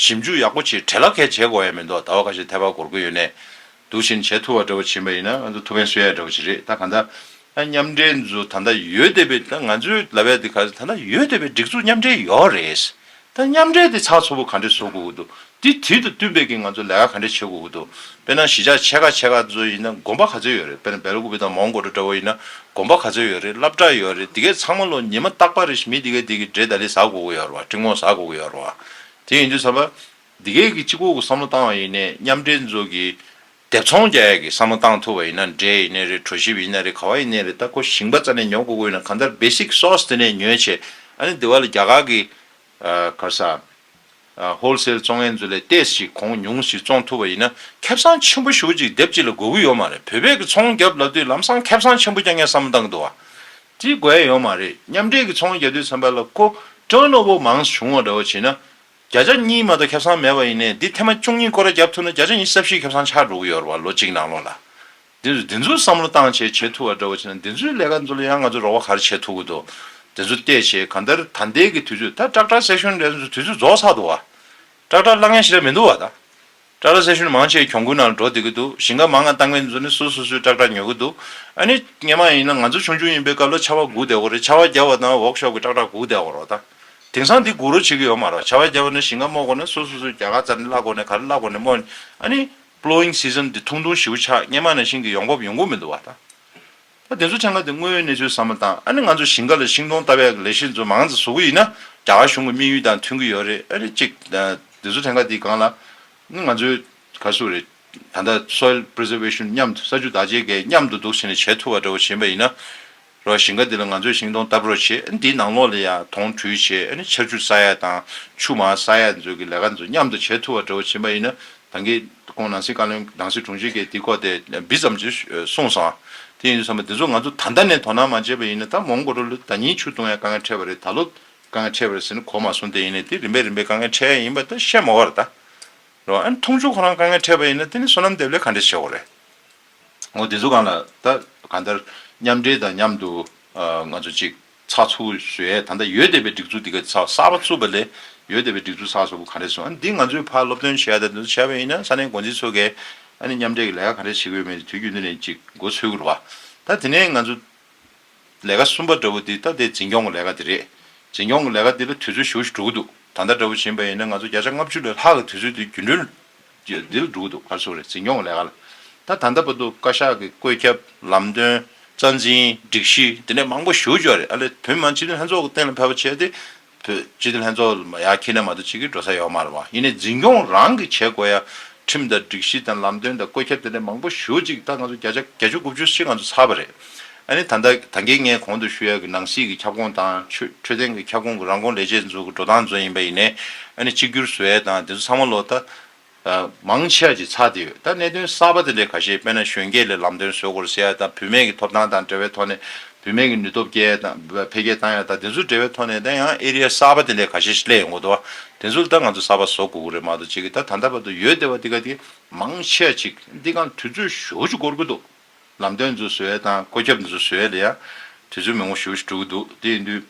ཞིབ་འཇུག་ཡག་པོ་བྱེད་གྲལ་ལ་ཁད་བྱེད་དགོ་ཡ་མི་འདུག་ཟླ་བ་ཁ་ཤས་ཐལ་བ་སྒོར་དགོས་ཡོད་ནས་འདུག་བཞིན་བྱས་ཐུབ་བ་འདྲ་བོ་བྱིན་པ་ཡིན་ན་ང་ཚོ་ཐུགས་ཕན་སོས་ཡ་འདྲ་བོ་བྱེད་རེད་ད་གང་ལྟར་མཉམ་འབྲེལ་འཛུ་ད་ལྟ་ཡོད་བསྡད་པའི་ད་ང་ཚོའི་ལ་བས་དེ་ག་ད་ལྟ་ཡོད་བསྡད་པའི་སྒྲིག་འཛུག་མཉམ་འབྲེལ་ཡོད་རེད་ད་མཉམ་འབྲེལ་དེ་ཚགས་ཚུད་པོ་ག་འདྲས་བཟོ་དགོ་གི་འདུག་དེ་དེ་དང་བསྟུན་པའི་གི་ང་ཚོ་ལས་ཀ་ག་འདྲས་བྱེད་དགོ་གི་འདུག་དཔེར་ན་གཞི་ཆགས་ཆེ་ཁ་ཆེ་ཁ་ཚོ་ཡིན་ན་དགོན་པ་ག་ཚོད་ཡོད་རེད་དཔེར་ན་སྦེལ་ཀུ་བི་དང་མོང་གོ་ཏྲོ་འདྲ་བོ་ཡིན་ན་དགོན་པ་ག་ཚོད་ཡོད་རེད་བླ་བྲ་ཡོད་རེད་དེ་གས་ཚང་མ་ལོ་ཉི་མ་རྟག་པ་རེད་མི་དེ་གས་དེ་གི་འབྲས་ད་ལི་ཟ་དགོ་གི་ཡོད་རེད་བ་ཀྲི་མོག་ཟ་དགོ་གི་ཡོད་རེད་བ། དེ་ཡིན་དུས་ཚར་བ། འདི་གས་ཀྱིས་གཅིག་པོ་གི་བསམ་བློ་བཏང་བ་ཡིན་ནས་མཉམ་འབྲེལ་མཛོད་ཀྱི་དེབ་ཚོང་རྒྱ་ཡག་གི་བསམ་བློ་བཏང་ཐུབ་བ་ཡིན་ན་འདྲེ་ཡིན་ནའི་རེད་གྲོ་ཞིབ་ཡིན་ནའི་རེད་ག་བ་ཡིན་ནའི་རེད་ད་ཁོ་ཞིང་པ་རྩ་ནས་ཉོ་དགོས་དགོས་ཡིན་ན་གང་ལྟར basic source དེ་ནས་ཉོས་བྱས་ཨ་ནི་དེ་བ་ལ་རྒྱ་གར་གི་གར་ས wholesale བཙོང་ངན་མཛོད་ལས་ལྟས་ཞིག་གོང་ཉུང་ཞིག་བཙོང་ཐུབ་བ་ཡིན་ན་ཁེབ་སང་ཆེན་པོ་ཞུགས་ཅིག་དེབ་གཅིག་ལ་དགོས་གི་ཡོད་མ་རེད་བོད་པས་གི་ཚོང་རྒྱབ་ལབ་དུས་ལམ་སང་ཁེབ་སང་ཆེན་པོ་རྐྱང་རྐྱང་བསམ་བློ་བཏང་གི་འདུག་བ། བརྩི་དགོས་ཡོད་མ་རེད་མཉམ་འབྲེལ་གྱི་ཚོང་རྒྱ་དུས་ཚན་པ་ལ་ཀོ་ཀྲོན་ནོ་བོ་མང་བྱུང་བ་འདྲ་བོ་བྱས་ན། བརྒྱ་ཆ་གཉིས་མ་གཏོགས་ཁྱབ་སངས་མེད་པ་ཡིན་ནའི་འདི་ཐེ་མ་བཅུ་གཉིས་ཀོ་ར་བརྒྱབ་ཐུབ་ན་བརྒྱ་ཆ་གཉིས་ས་བཞིའི་ཁྱབ་སངས་ཆགས་འགྲོ་གི་ཡོད་རེད་བ་ལོ་གཅིག་ནང་ལོགས་ལ། འདི་ཚོས་འདི་ཚོའི་བསམ་བློ་བཏང་བྱས་བྱེད་ཐུབ་བ་འདྲ་བོ་བྱས་ན་འདི་ཚོའི་ལས་ཀ་འདི་ལ་ཡང་ང་ཚོས་རོགས་པ་ག་རེ་བྱེད་ཐུབ་གི་འདུག་འདི་ཚོ་བལྟས་བྱས་གང་ལྟར་ད་འདས་ཀྱི་དུས་ཚོད་ད་སྐྲག་སྐྲག་སེག་ཤུན་འདྲ་ཚོ་དུས་ཚོད་རྫོགས་ཚར་འདུག་བ། སྐྲག་སྐྲག་གླ་ངན་ཞིག་ལ་མི་འདུག་བ་ད། ཀྲ་ར་སེ་ཤུན་མང་ཆེ་གྱོང་གུན་ནང་འགྲོ་བསྡད་ཀྱི་འདུག་ཞིང་ཁ་མང་ང་བཏང་མེད་ཚོ་ནི་སུ་སུ་སུས་སྐྲག་སྐྲག་ཉོ་གི་འདུག་ཨ་ནི་ངེད་མང་ཡིན་ན་ང་ཚོ་ཆུང་ཆུང་ཡིན་པའི་སྐབས་ལ་ཆར་བ་འགུག་བསྡད་གོ་རེད་ཆར་བ་རྒྱབ་བ་དང་བོག་ཤོག་གི་སྐྲག་སྐྲག་འགུག་བསྡད་གོ་རོགས་ད། དེང་སང་འདི་འགུག་རོགས་བྱེད་ཀྱི་ཡོད་མ་རོགས་ཆར་བ་རྒྱབ་བ་ནི་ཞིང་ཁ་རྨོ་གོ་ན་སུ་སུ་སུས་རྒྱ་གར་རྩར་ནི་བླ་གོ་ནས་ག་རེ་བླ་གོ་ནས་རྨོ། ཨ་ནི། Plowing season འདི་ཐུང་ཐུང་བཞི་བོ་ཆགས་ངེད་མང་ནས་ཞིང་གི་ཡོང་འབབ་ཡོང་གི་མི་འདུག་བ་ད། ད་དེ་ཚོ་ཆང་ཁ་དེ་དངོས་ཡོད་གནས་ཚུལ་ཟ་མ་དང་ཨ་ནི་ང་ཚོ་ཞིང་ཁ་ལ་ཤིང་སྡོང་ལྟ་བས་ལས་གཞི་ཚོ་མང་ཙ་བཟོ་གི་ཡིན་ན་རྒྱ་གར་གཞུང་གི་དམིགས་ཡུལ་དང་མཐུན་གི་ཡོད་རེད་ཨ་རེད་གཅིག་དེ་ཚོ་ཆང་ཁ་དེ་གང་ལ་ནི་ང་ཚོའི་ག་སུ་རེད་ད་ལྟ Soil Preservation མཉམ་དུ་ས་ཆུ་བདག་གཅེས་འགལ་མཉམ་དུ་འདུག་བྱས་ནས་བྱས་ཐུབ་པ་འདྲ་བོ་བྱིན་པ་ཡིན་ན་རོགས་ཞིང་ཁ་དེ་ལ་ང་ཚོས་ཤིང་སྡོང་ལྟ་བུ་རོགས་བྱེད་ཨ་ནི་དེའི་ནང་ལོགས་ལ་ཡང་དོང་གྲུས་བྱེད་ཨ་ནི་ཆར་ཆུ་ས་ཡ་དང་ཆུ་མ་ས་ཡ་འཛོལ་གི་ལས་ཀ་ཚོ་མཉམ་དུ་བྱས་ཐུབ་པ་འདྲ་བོ་བྱིན་པ་ཡིན་ན་ད་གིན་ཁོང་ནང་སྲིད་བཀའ་བློན་གདང་སྲིད་དྲུང་ཆེ་གིས་དེའི་སྐོར་དེ་འབི་ཙམ་ཅིག་གསུངས་སོང། དེ་ཡིན་དུས་བསམ་པ་དེ་ཚོ་ང་ཚོ་ད་ལྟ་ནས་དོ་སྣང་མ་བྱས་པ་ཡིན་ན་ད་མོང་གོ་ཏྲོ་ལོ་ད་ཉིན་ཆུ་བཏུང་ཡང་དཀའ་ངལ་འཕྲད་པ་རེད་ད་ལོ་དཀའ་ངལ་འཕྲད་པ་རེད་ཟེར་ནས་གོ་མ་སོང་དེ་ཡིན་ནས་དེ་རིམ་པས་རིམ་པས་དཀའ་ངལ་འཕྲད་ཡས་ཡིན་པ་ད་བཤད་མ་བར་ད་རེད་བ་ཨ་ནི་མཐོང་ཆུང་ཁོ་རང་དཀའ་ངལ་འཕྲད་པ་ཡིན་ན་དེ་ནི་སོ་ནམ་འདེབས་ལས་ག་འདྲས་བྱེད་འོ་རེད། ངོ་དེ་ཚོ་གང་ལ་ད་གང་ལྟར་མཉམ་འབྲེལ་དང་མཉམ་དུ་ང་ཚོ་ཅིག། ཚགས་ཚུད་བཟོས་ད་ལྟ་ཡོད་བསྡད་པའི་སྒྲིག་འཛུགས་དེ་ག་ཚགས་གསར་པ་ཚུད་པ་ལས་ཡོད་བསྡད་པའི་སྒྲིག་འཛུགས་ཚགས་བཟོ་དགོས་ག་རེ་སོང་འདི་ང་ཚོའི་ཕར་སློབ་སྟོན་བྱས་ད་དུ་བྱས་པ་ཡིན་ན་ས་གནས་འགོ་འཛིན་ཚོ་གས་ཨ་ནི་མཉམ་འབྲེལ་གྱི་ལས་ཀ་ག་རེ་བྱེད་དགོས་མེད་དེ་དུས་རྒྱུན་དུ་ནས་ཅིག་འགོ་ཚུད་དགོས་ལ་ད་དེ་ནས་ང་ཚོ་ལས་ཀ་གསུམ་པ་འདྲ་བོ་འདི་ད་དེ་འཛིན་སྐྱོང་གི་ལས་ཀ་འདི་རེད་འཛིན་སྐྱོང་གི་ལས་ཀ་འདི་ལ་དུས་ཚོད་བཞུགས་བཞུགས་འགྲོ་གི་འདུག་ད་ལྟ་འདྲ་བོ་བྱིན་པ་ཡིན་ན་ང་ཚོ་བརྒྱ་ཆ་ལྔ་བཅུ་ལས་ལྷག་གི་དུས་ཚོད་འདི་རྒྱུན་གྲོན། ཀྱི་རྡིལ་སྒྲུག་ཏུ་ཁ་གསོ་རེ་འཛིན་སྐྱོང་ལས་ཀ་ལ་ད་ད་འདའ་པོ་འདུག་བཀའ་ཤག་གི་བཀོད་ཁྱབ་ལམ་སྟོན་རྩ་འཛིན་སྒྲིག་གཞི་དེ་ནས་མང་པོ་ཞུ་བཅོག་རེད་ཨ་ལས་དོན་མང་སྤྱི་འཐུས་ལྷན་ཚོགས་ཀྱི་སྟེང་ལ་ཕེབས་པ་བྱས་ཏེ་བོད་སྤྱི་འཐུས་ལྷན་ཚོགས་ལ་ཡར་ཁྱེར་ནས་མ་གཏོགས་ཅི་གི་འགྲོ་ས་ཡོད་མ་རེད་བ་ཡིན་ནའི་འཛིན་སྐྱོང་རང་གི་བྱེད་དགོས་ཡ་ཁྲིམས་དང་སྒྲིག་གཞི་དང་ལམ་སྟོན་དང་བཀོད་ཁྱབ་དེ་ནས་མང་པོ་ཞུ་གཅིག་ད་ང་ཚོ་བརྒྱ་ཆ་བརྒྱ་བཅུ་དགུ་བཅུ་ཕྱིར་ང་ཚོ་ཚར་བ་རེད་ཨ་ནི་ད་ལྟ་ད་གེ་ངས་གོང་དུ་ཞུ་ཡ་གི་ནང་སྲིད་ཀྱི་ཁྱབ་ཁོངས་དང་ཆོས་འཕྲོད་བསྟེན་གྱི་ཁྱབ་ཁོངས་ཀྱི་རང་ཁོངས་ལས་བྱེད་འཛུགས་ཀྱི་འགྲོ་སྟངས་ཙོ་ཡིན་པ་ཡིན་ནས་ཨ་ནི་གཅིག་གྱུར་བཟོ་ཡ་དང་དེ་ཚོ་ཚང་མ་ལོ་ད་མང་ཆེ་ཡ་ཅིག་ཚགས་དེ་ཡོད་ད་གནད་དོན་གསར་པ་དེ་འདྲའི་ཁ་ཤས་དཔེ་ན་གཞོན་སྐྱེས་ལས་ལམ་སྟོན་བཟོས་སྐོར་བཤད་ཡ་དང་བུད་མེད་ཀྱི་ཐོབ་ཐང་དང་འབྲེལ་བའི་ཐོག་ནས་བུད་མེད་ཀྱི་ནུས་སྟོབས་སྐྱེ་ཡ་དང་འཕེལ་རྒྱས་བཏང་ཡ་དང་དེ་ཚོ་འབྲེལ་བའི་ཐོག་ནས་ད་ཡང་ཨེ་རི་ཡ་གསར་པ་དེ་འདྲའི་ཁ་ཤས་ཤིག་སླེ་ཡོང་གོ་དོ་དེ་ཚོ་ལ་ད་ང་ཚོ་གསར་པ་བཟོ་དགོ་གོ་རེད་མ་གཏོགས་ཅིག་གི་ད་ད་ལྟ་བར་དུ་ཡོད་དེ་བ་དེ་ག་དེ་མང་ཆེ་ཡ་ཅིག་འདི་གང་དུས་ཚོད་ཞོ་ཅིག་འགོར་གྱི་འདུག། ལམ་སྟོན་འཛུལ་ཟེར་བའི་དང་བཀོད་ཁྱབ་འཛུལ་ཟེར་བའི་དེ་ཡང་དུས་ཚོད་མི་ངོ་བཞི་བ་ཞིག་འགྲོ་གི་འདུག་དེ་ཡིན་དུས་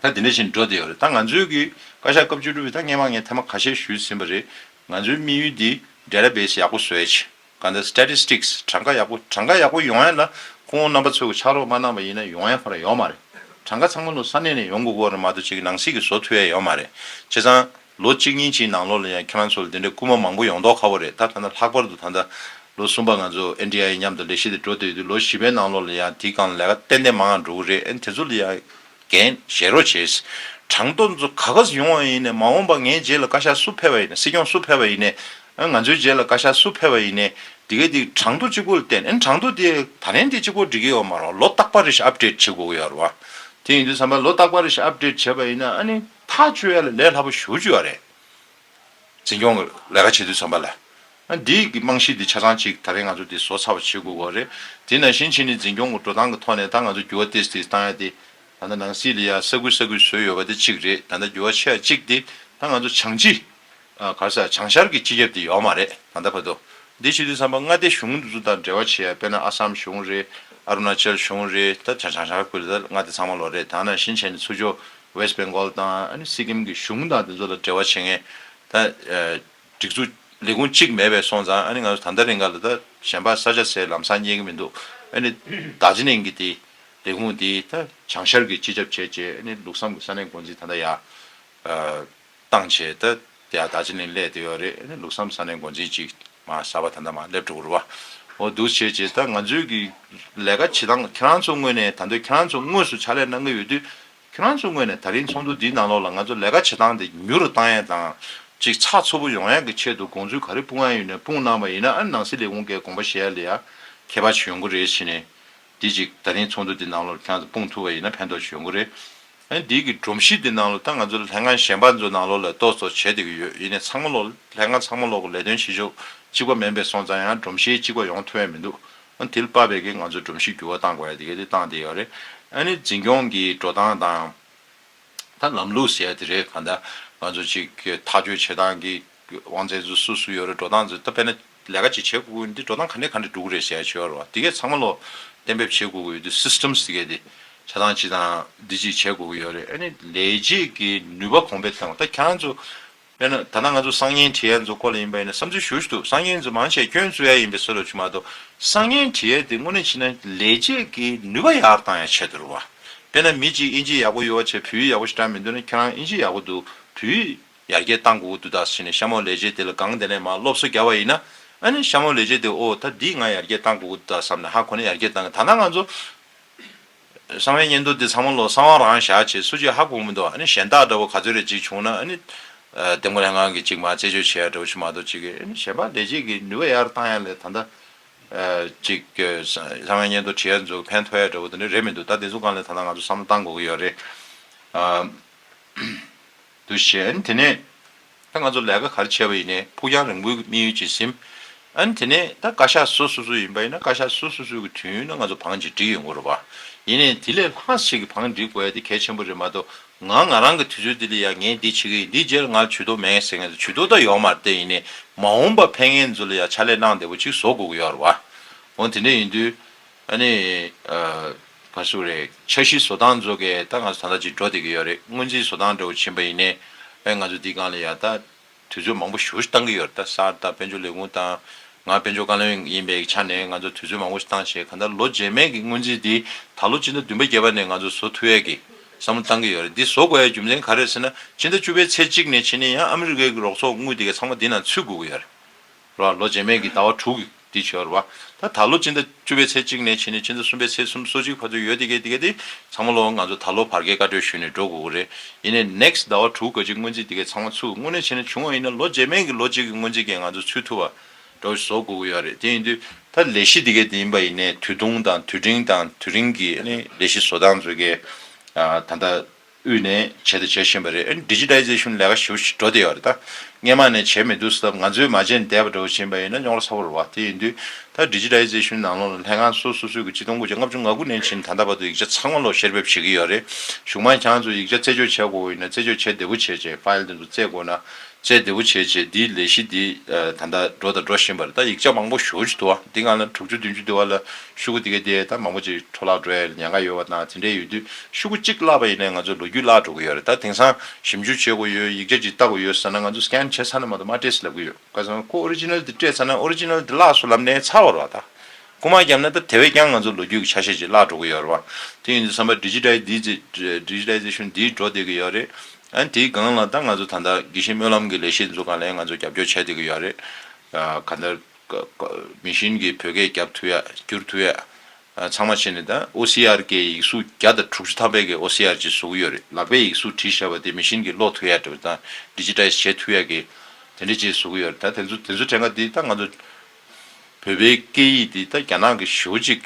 ད་དེ་འདྲ་ཞིག་འགྲོ་བསྡད་ཡོད་རེད་ད་ང་ཚོའི་གི་བཀའ་ཤག་སྐབས་བཅུ་དྲུག་པའི་ད་སྔས་མ་ངས་ཐེངས་མ་ཁ་ཤས་ཞུས་ཟིན་པ་རེད་ང་ཚོའི་དམིགས་ཡུལ་དེ Data Base ཡག་པོ་བཟོས་ཆེ་གང་ལྟར Statistics གྲངས་ཀ་ཡག་པོ་གྲངས་ཀ་ཡག་པོ་ཡོང་ཡ་ལ་ཁོང་རྣམ་པ་ཚོས་གི་ཕྱག་རོགས་མ་གནང་བ་ཡིན་ན་ཡོང་ཡ་ཁོ་ན་ཡོད་མ་རེད་གྲངས་ཀ་ཚང་མ་ནུ་ས་གནས་ནས་ཡོང་དགོས་སྐོར་རེད་མ་གཏོགས་བྱེད་གི་ནང་སྲིད་གི་བཟོ་ཐུ་ཡ་ཡོད་མ་རེད་བྱས་ཙང། ལོ་གཅིག་གཉིས་ཀྱི་ནང་ལོགས་ལ་ཡང་ཁྱེད་རང་ཚོ་ལ་དེ་འདྲའི་སྐུལ་མ་མང་པོ་ཡོང་མདོག་ཁ་བོ་རེད་ད་ཐ་ན་ལྷག་པར་དུ་ད་ལྟ་ལོ་གསུམ་པ་ང་ཚོ NDIA མཉམ་དུ་ལས་གཞི་དེ་འགྲོ་བསྡད་ཡོད་དུས་ལོ་བཞི་པའི་ནང་ལོགས་ལ་ཡང་དེའི་སྒང་ལ་ལས་ཀ་ཏན་ཏན་མང་ཡང་འགྲོ་གི་རེད་ཨེ་དེ་ཚོ་ལ་ཡང་འགན་བཞེས་རོགས་བྱས། གྲངས་ཐོ་ཚོ་ག་ག་སུ་ཡོང་བ་ཡིན་ནས་མ་འོངས་པ་ངའི་རྗེས་ལ་བཀའ་ཤག་སུ་ཕེབས་པ་ཡིན་ནས་སྲིད་སྐྱོང་སུ་ཕེབས་པ་ཡིན་ནས་ཨེ་ང་ཚོའི་རྗེས་ལ་བཀའ་ཤག་སུ་ཕེབས་པ་ཡིན་ནས་དེ་གས་དེ་གྲངས་ཐོ་གཅིག་པོ་ལ་བརྟེན་ཨེ་གྲངས་ཐོ་དེ་ད་ལན་དེ་གཅིག་པོ་འགྲིག་གི་ཡོད་མ་རོགས་ལོ་རྟག་པར་རེ་ཞིག update བྱེད་དགོས་ཀྱི་ཡོད་རེད་བ། དེ་ཡིན་དུས་བསམ་པ་ལོ་རྟག་པར་རེ་ཞིག update བྱས་པ་ཡིན་ན་ཨ་ནི། ཐག་གཅོད་ཡ་ལ་ལས་སླ་པོ་ཞུ་རྒྱུ་ཡ་རེད། འཛིན་སྐྱོང་གི་ལས་ཀ་བྱེད་དུས་ཚང་པ་ལ། འདི་གི་རྨང་གཞི་འདི་ཆ་ཚང་གཅིག་ད་རེས་ང་ཚོ་འདི་བཟོ་ཚར་བ་བྱེད་དགོས་གོ་རེད། དེ་ནང་བཞིན་ཕྱི་ནས་འཛིན་སྐྱོང་གི་འགྲོ་སྟངས་ཀྱི་ཐོག་ནས་ད་ང་ཚོ་འགྱུར་བ་ཏེས་ཏེས་བཏང་ཡ་དེ། ད་ལྟ་ནང་སྲིད་ལ་ཡ་ས་ཁུལ་ས་ཁུལ་བཟོས་ཡོད་པ་དེ་གཅིག་རེད་ད་ལྟ་འགྱུར་བ་ཆེ་ཡ་གཅིག་དེ། ད་ང་ཚོ་བྱང་སྤྱི། གར་ས་བྱང་ཤར་གྱི་སྤྱི་ཁྱབ་དེ་ཡོག་མ་རེད་ད་ལྟ་བར་དུ། འདིའི་ཕྱི་དྲིལ་བསམ་པ་མངའ་སྡེ་གཞུང་འདི་ཚོ་དང་འབྲེལ་བ་བྱེད་ཡ་དཔེར་ན་ཨ་སམ་གཞུང་རེད། ཨ་རུ་ན་ཅལ་གཞུང་རེད་ད་ཆ་བྱང་ཤར་ཁུལ་ལ་མངའ་སྡེ་ཚང་མ་ལོ་རེད་ད་ནང་བཞིན་བྱས་ནས་ཚུར་འཇོག West Bengal དང་ཨ་ནི་སི་ཀིམ་གྱི་གཞུང་དང་དེ་ཚོ་ལ་འབྲེལ་བ་བྱེད་མཁན་ད་སྒྲིག་འཛུགས་ལས་ཁུངས་གཅིག་མེད་པས་སོང་ཙང་ཨ་ནི་ང་ཚོ་ད་ལྟ་རིང་ག་ལ་ད་གཞན་པ་ས་ཆ་སའི་ལམ་སང་རྙེད་ཀྱི་མི་འདུག་ཨ་ནི་ད་ཇི་ནེང་གི་དེ་ལས་ཁུངས་དེ་ད་བྱང་ཤར་གྱི་སྤྱི་ཁྱབ་བྱས་རྗེས་ཨ་ནི་ལུགས་བསམ་གྱི་ས་གནས་འགོ་འཛིན་ད་ལྟ་ཡ། བཏང་བྱས་ད་ཡ་ད་ཅི་ནས་སླད་དེ་ཡོད་རེད་ལུགས་བསམ་ས་ནས་འགོ་འཛིན་ཅིག་མ་ས་བ་ད་འདའ་མ་སླེབས་འགྲོ་གུར་བ་འོ་འདུག་བྱས་བྱས་ད་ང་ཚོའི་གི་ལས་ཀ་བྱེད་སྟངས་ཁྱེད་རང་ཚོ་དངོས་ནས་ད་འདོད་ཁྱེད་རང་ཚོ་དངོས་སུ་ཕྱག་ལས་གནང་གི་ཡོད་དུས་ཁྱེད་རང་ཚོ་དངོས་ནས་ད་རིང་ཚོགས་འདུ་འདིའི་ནང་ལོགས་ལ་ང་ཚོ་ལས་ཀ་བྱེད་སྟངས་དེ་མྱུར་རུ་བཏང་ཡས་དང་ཅིག་ཚགས་ཚུད་པོ་ཡོང་ཡས་གི་ཆེད་དུ་དགོངས་ཚུལ་ག་རེ་སྤུངས་ཡས་ཡོད་ནས་སྤུངས་གནང་བ་ཡིན་ན་ཨ་ནང་སྲིད་ལས་ཁུངས་ཀས་དགོངས་པ་བཞེས་ཡས་ལས་ཡ་མཁས་པ་བྱོན་གུར་རེ་བྱས་ནས་དེ་ཅིག་ད་རིང་ཚོགས་འདུ་འདི་ནང་ལོར་ཁྱོད་ཚོ་སྤུངས་ཐུབ་པ་ཡིན་ན་ཕན་ཐོགས་ཆེ་ཡོང་གི་རེད། ཨ་འདིའི་གི་སྒྲོམ་གཞི་འདི་ནང་ལོར་ད་ང་ཚོ་ལས་ཀང་གཞན་པ་ཚོ་ནང་ལོར་ལས་གཏོགས་ཚོ་བྱེད་བསྡད་གི་ཡོད་ཡིན་ནས་ཚང་མ་ལོར་ལས་ཀང་ཚང་མ་ལོར་གི་ལས་དོན་བྱེད་ཕྱོགས་གཅིག་པ་མིན་པས་སོང་ཙང་ཡང་སྒྲོམ་གཞི་གཅིག་པ་ཡོང་ཐུབ་ཡ་མི་འདུག་ཨ་དེ་ལ་དཔག་པའི་གི་ང་ཚོ་སྒྲོམ་གཞི་འགྱུར་བ་གཏང་དགོས་ཡ་དེ་གི་དེ་གཏང་བསྡད་ཡོད་རེད། ཨ་ནི་འཛིན་སྐྱོང་གི་འགྲོ་སྟངས་དང། ད་ལམ་ལུགས་ཟེར་ཡ་དེ་རེད་གང་ལྟར་ང་ཚོ་ཅིག་ཐག་གཅོད་བྱེད་སྟངས་གི་དབང་རྩའི་རྫུ་སུ་སུ་ཡོད་རེད་འགྲོ་སྟངས་རྫུ་ད་པེ་ན་ལས་ཀ་ཅིག་བྱེད་དགོས་གི་འདི་འགྲོ་སྟངས་ག་འདྲས་ག་འདྲས་འགྲུག་རེད་ཞེས་བྱས་པར་བ་དེ་གས་ཚང་མ་ལོ་གཏན་འབེབས་བྱེད་དགོས་གི་ཡོད་དུས systems དེ་གས་དེ་བྱ་སྟངས་ཅིག་དང་འདི་ཅིག་བྱེད་དགོས་གི་ཡོད་རེད་ཨ་ནི་ལས་རྗེས་ཀྱི་ནུས་པ་གོང་འཕེལ་བཏང་བ་ད་ཁྱེད་རང་ཚོ་པེ་ན་ད་ནང་ང་ཚོ་སང་ཉེན་དྲི་ཡལ་ཚོ་ཀོ་ལ་ཡིན་པ་ཡིན་ན་བསམ་ཚུལ་ཞུ་ཞུ་དུ་སང་ཉེན་ཚོ་མང་ཆེ་སྐྱོན་བཙུགས་ཡ་ཡིན་པའི་སྲོལ་ལ་བྱུང་མ་ཏོ་སང་ཉེན་དྲི་ཡལ་དེ་དངོས་གནས་བྱེད་ན་ལས་རྗེས་ཀྱི་ནུས་པ་ཡག་བཏང་ཡ་ཆེ་དུར་བ་དཔེ་ན་མི་ཅིག་ཨིན་ཇི་ཡག་པོ་ཡོད་བ་ཆེ་བུ་ཡག་པོ་ཞིག་དྲངས་མི་འདུག་ན་ཁྱེད་རང་ཨིན་ཇི་ཡག་པོ་འདུག་བུ་ཡིས། ཡར་རྒྱས་བཏང་དགོས་དགོས་འདུག་ད་ཕྱིན་ནས་ཤ་མོ་ལས་བྱེད་དེ་ལ་སྒང་དེ་ནས་མ་སློབ་གསོ་རྒྱ་བ་ཡིན་ན་ཨ་ནི་ཤ་མོ་ལས་བྱེད་དེ་ཨོ་ད་འདིས་ང་ཡར་རྒྱས་བཏང་དགོས་དགོས་འདུག་ད་བསམ་ནས་ཧ་གོ་ནས་ཡར་རྒྱས་བཏང་གི་ཐ་ན་ང་ཚོ་གསང་བའི་སྙན་ཐོ་འདི་ཚང་མ་ལོ་གསང་བ་རང་བཞག་བྱེད་སུ་བྱེད་ཧ་གོ་མི་འདུག་ཨ་ནི་གཞན་དག་འདྲ་བོ་ག་ཚོད་རེ་གཅིག་བྱུང་ན་ཨ་ནི་དེ་མགོ་ལྷན་ཁང་གི་གཅིག་མ་རྩད་གཅོད་བྱེད་ཡ་འདྲ་བོ་ཞིག་མ་གཏོགས་གཅིག་གིས་ཨ་ནི་གཞན་པ་ལས་བྱེད་ཀྱི་ནུས་པ་ཡར་བཏང་ཡ་ལས་ད་ལྟ་གཅིག་གསང་བའི་སྙན་ཐོ་བྲིས་ཡ་འཛུགས་ཕན་ཐོག་ཡ་འདྲ་བོ་དེ་འདྲ་རེད་མི་འདུག་ད་དེ་ཚོ་སྒང་ལས་ད་ལྟ་ང་ཚོ་བསམ་བློ་བཏང་དགོས་ཀྱི་ཡོད་རེད། འདུག་གཞན་དེ་ནས་ད་ང་ཚོ་ལས་ཀ་གར་བྱས་པ་ཡིན་ནས་ཕུགས་རྒྱང་རིང་པོའི་དམིགས་ཡུལ་གྱིས་སིམ། ཨན་དེ་ནས་ད་བཀའ་ཤག་སོ་སོ་སོ་ཡིན་པ་ཡིན་ན་བཀའ་ཤག་སོ་སོ་སོའི་གི་དུས་ཡུན་ན་ང་ཚོ་བང་ཅིག་བསྒྲིགས་ཡོད་དགོས་རུ་བ། ཡིན་ནས་དེ་ལས་ལྷག་ཞིག་གི་བང་བསྒྲིགས་དགོས་ཡ་དེ་གལ་ཆེན་པོ་རེད་མ་གཏོགས་ང་ང་རང་གི་དུས་ཚོད་དེ་ལ་ཡ་ངས་འདི་བྱེད་གི་ཡིན་འདི་བྱས་ལ་ང་ལ་ཇུས་གཏོགས་མེད་ཟེར་མཁན་དང་ཇུས་གཏོགས་ད་ཡོང་མ་རྟེན་ཡིན་ནས་མ་འོངས་པ་ཕན་ངན་ཚོ་ལ་ཡ་ཕྱག་ལས་གནང་བདེ་པོ་ཅིག་བཟོ་དགོས་གི་ཡོད་རུ་བ། འོན་ཏེ་འདྲ་ཡིན་དུས། ཨ་ནི། ང་སུ་རེད། འཆར་གཞི་བཟོ་སྟངས་མཛོ་གས་ད་ང་ཚོ་ད་ལྟ་ཅིག་འགྲོ་བསྡད་ཀྱི་ཡོད་རེད་སྔོན་རྩིས་བཟོ་སྟངས་འདྲ་བོ་བྱིན་པ་ཡིན་ནའི་ཨེ་ང་ཚོ་འདི་སྒང་ལ་ཡ་ད་དུས་ཚོད་མང་པོ་ཞུ་བཏང་གི་ཡོད་རེད་ད་སར་ད་དཔལ་འབྱོར་ལས་ཁུངས་དང་ང་དཔལ་འབྱོར་བཀའ་བློན་ཡིན་པའི་ཆ་ནས་ང་ཚོ་དུས་ཚོད་མང་པོ་ཞིག་བཏང་བྱས་གང་ལྟར་ལོ་རྗེས་མའི་གི་སྔོན་རྩིས་འདི་ད་ལོ་སྤྱི་ཟླ་བདུན་པ་བརྒྱད་པ་ནས་ང་ཚོ་བཟོ་ཐུ་ཡས་ཀྱི་བསམ་བློ་བཏང་གི་ཡོད་རེད་འདི་བཟོ་དགོས་ཡའི་རྒྱུ་མཚན་ག་རེད་ཟེར་ན་སྤྱི་ཟླ་བཅུ་པའི་ཚེས་གཅིག་ནས་ཕྱི་ནས་ཡང་ཨ་མི་རི་ཀའི་གི་རོགས་ཚོགས་དངུལ་འདི་གས་ཚང་མ་འདི་ནང་ཚུད་དགོས་ཀྱི་ཡོད་རེད། རོ་ལོ་རྗེས་མའི་གི་ཟླ་བ་དྲུག་གི་བྱེད་རོ། ད་ད་ལོ་སྤྱི་ཟླ་བཅུ་པའི་ཚེས་གཅིག་ནས་ཕྱི་ནས་ཕྱི་ཟླ་གསུམ་པའི་ཚེས་གསུམ་སོ་གཅིག་བར་དུ་ཡོད་དེ་གས་དེ་གས་དེ་ཚང་མ་ལོ་ང་ཚོ་ད་ལོ་བར་གས་བཀའ་གྲོས་ཞུས་ནས་འགྲོ་དགོས་གི་རེད་ཡིན་ནས next ཟླ་བ་དྲུག་ག་གཅིག་སྔོན་རྩིས་དེ་གས་ཚང་མ་ཚུགས་དངོས་གནས་བྱས་ན་བྱུང་བ་ཡིན་ན་ལོ་རྗེས་མའི་གི་ལོ་གཅིག་གི་སྔོན་རྩིས་གས་ང་ཚོ་ཚུད་ཐུབ་བ་འགྲོ་བཞིན་བཟོ་དགོས་གི་ཡོད་རེད་དེ་ཡིན་དུས་ད་ལས་གཞི་དེ་གས་དེ་ཡིན་པ་ཡིན་ནས་དུས་ཐུང་དང་དུས་འབྲིང་དང་དུས་རིང་གི་ནི་ལས་གཞི་བཟོ་སྟངས་བཟོས་གས་ད་ད། དབུས་ནས་བྱས་དང་བྱེད་བཞིན་པ་རེད Digitization ལས་ཀ་ཞིབ་ཞིག་འགྲོ་བསྡད་ཡོད་རེད་ད། སྔས་མ་ནས་བྱས་མི་འདུག་སེ་ད་ང་ཚོའི་མ་བྱས་ནས་བསྡད་པ་འདྲ་བོ་བྱིན་པ་ཡིན་ན་རྙོག་ར་ཚ་བོ་རེད་བ་དེ་ཡིན་དུས་ད Digitization ནང་ལོག་ལ་ལྷན་ཁང་སོ་སོ་སོའི་གི་སྤྱི་སྟོང་དགུ་བརྒྱ་ལྔ་བཅུ་ང་དགུ་ནས་བྱིན་ད་ད་བར་དུ་ཡིག་ཆ་ཚང་མ་ལོག་བཤེར་འབེབས་བྱེད་གི་ཡོད་རེད་གཞུང་མང་ཁྱང་ཚོ་ཡིག་ཆ་རྩད་གཅོད་བྱས་དགོས་དགོས་ཡིན་ན་རྩད་གཅོད་བྱས་བདེ་བོ་བྱས་རྗེས File དེ་ཚོ་བཙལ་དགོས་ན་བཅས་བདེ་བོ་བྱས་བྱས་འདིའི་ལས་གཞི་འདི་ད་ལྟ་འགྲོ་དང་འགྲོ་བཞིན་པ་རེད་ད་ཡིག་ཆ་མང་པོ་ཞུ་བཞིན་འདུག་བ་འདི་སྔ་ལ་དྲུག་ཅུ་བདུན་ཅུ་འདི་བ་ལ་ཤུ་གུ་དེ་ག་དེ་ད་མང་པོ་ཅིག་འཕྲོ་བརླག་འགྲོ་ཡ་ཡོད་ཉེན་ཁ་ཡོད་བ་དང་དེ་འདྲས་ཡོད་དུས་ཤུ་གུ་གཅིག་བརླག་པ་ཡིན་ནས་ང་ཚོ་ལོ་རྒྱུས་བརླག་འགྲོ་གི་ཡོད་རེད་ད་དེང་སང་ཞིབ་འཇུག་བྱེད་དགོས་ཡོད་ཡིག་ཆ་ཅིག་བལྟ་དགོས་ཡོད་ཟེར་ན་ང་ཚོ Scan བྱེད་ས་ན་མ་གཏོགས་མ་སྤྲད་སྲིད་ལབ་གི་ཡོད་ཁ་སང་ཁོ Original དེ་སྤྲད་ཚར་ན Original དེ་བརླགས་སོ་ལབ་ནས་ཚར་བ་རེད་བ་ད། རྐུ་མ་བརྒྱབ་ན་ད་དེ་བས་ཀྱང་ང་ཚོ་ལོ་རྒྱུས་ཀྱི་ཆ་ཤས་ཅིག་བརླག་འགྲོ་གི་ཡོད་རེད་བ། དེ་ཡིན་དུས་བསམ་པ Digitization འདིས་འགྲོ་བསྡད་ཀྱི་ཡོད་རེད། ཨན་དེའི་སྒང་ལ་ད་ང་ཚོ་ད་ལྟ་དགེ་བཤེས་སྨོན་ལམ་གྱི་ལས་གཞི་འཛུགས་གང་ལེགས་ང་ཚོ་རྒྱབ་སྐྱོར་བྱས་བསྡད་ཀྱི་ཡོད་རེད། ག་ལྟར་མི་བཞིན་གྱི་བོད་སྐད་རྒྱབ་ཐུབ་ཡ་བསྒྱུར་ཐུབ་ཡ་ཚང་མ་བྱས་ནས་ད OCR ཀྱི་ཡིག་གཟུགས་བརྒྱ་དང་དྲུག་ཅུ་ཐམ་པའི་ཀྱི OCR ཅིག་བཟོ་གི་ཡོད་རེད་ལག་པས་ཡིག་གཟུགས་བྲིས་བྱས་བ་དེ་མི་བཞིན་གྱི་ཀློག་ཐུབ་ཡ་དང Digitize བྱེད་ཐུབ་ཡ་ཀྱི་དེ་འདྲའི་ཅིག་བཟོ་གི་ཡོད་རེད་ད་དེ་ཚོ་དེ་ཚོ་དྲན་ག་དེ་ད་ང་ཚོ་བོད་པའི་སྐད་ཡིག་འདི་ད་རྒྱ་ནག་གི་ཞོ་གཅིག་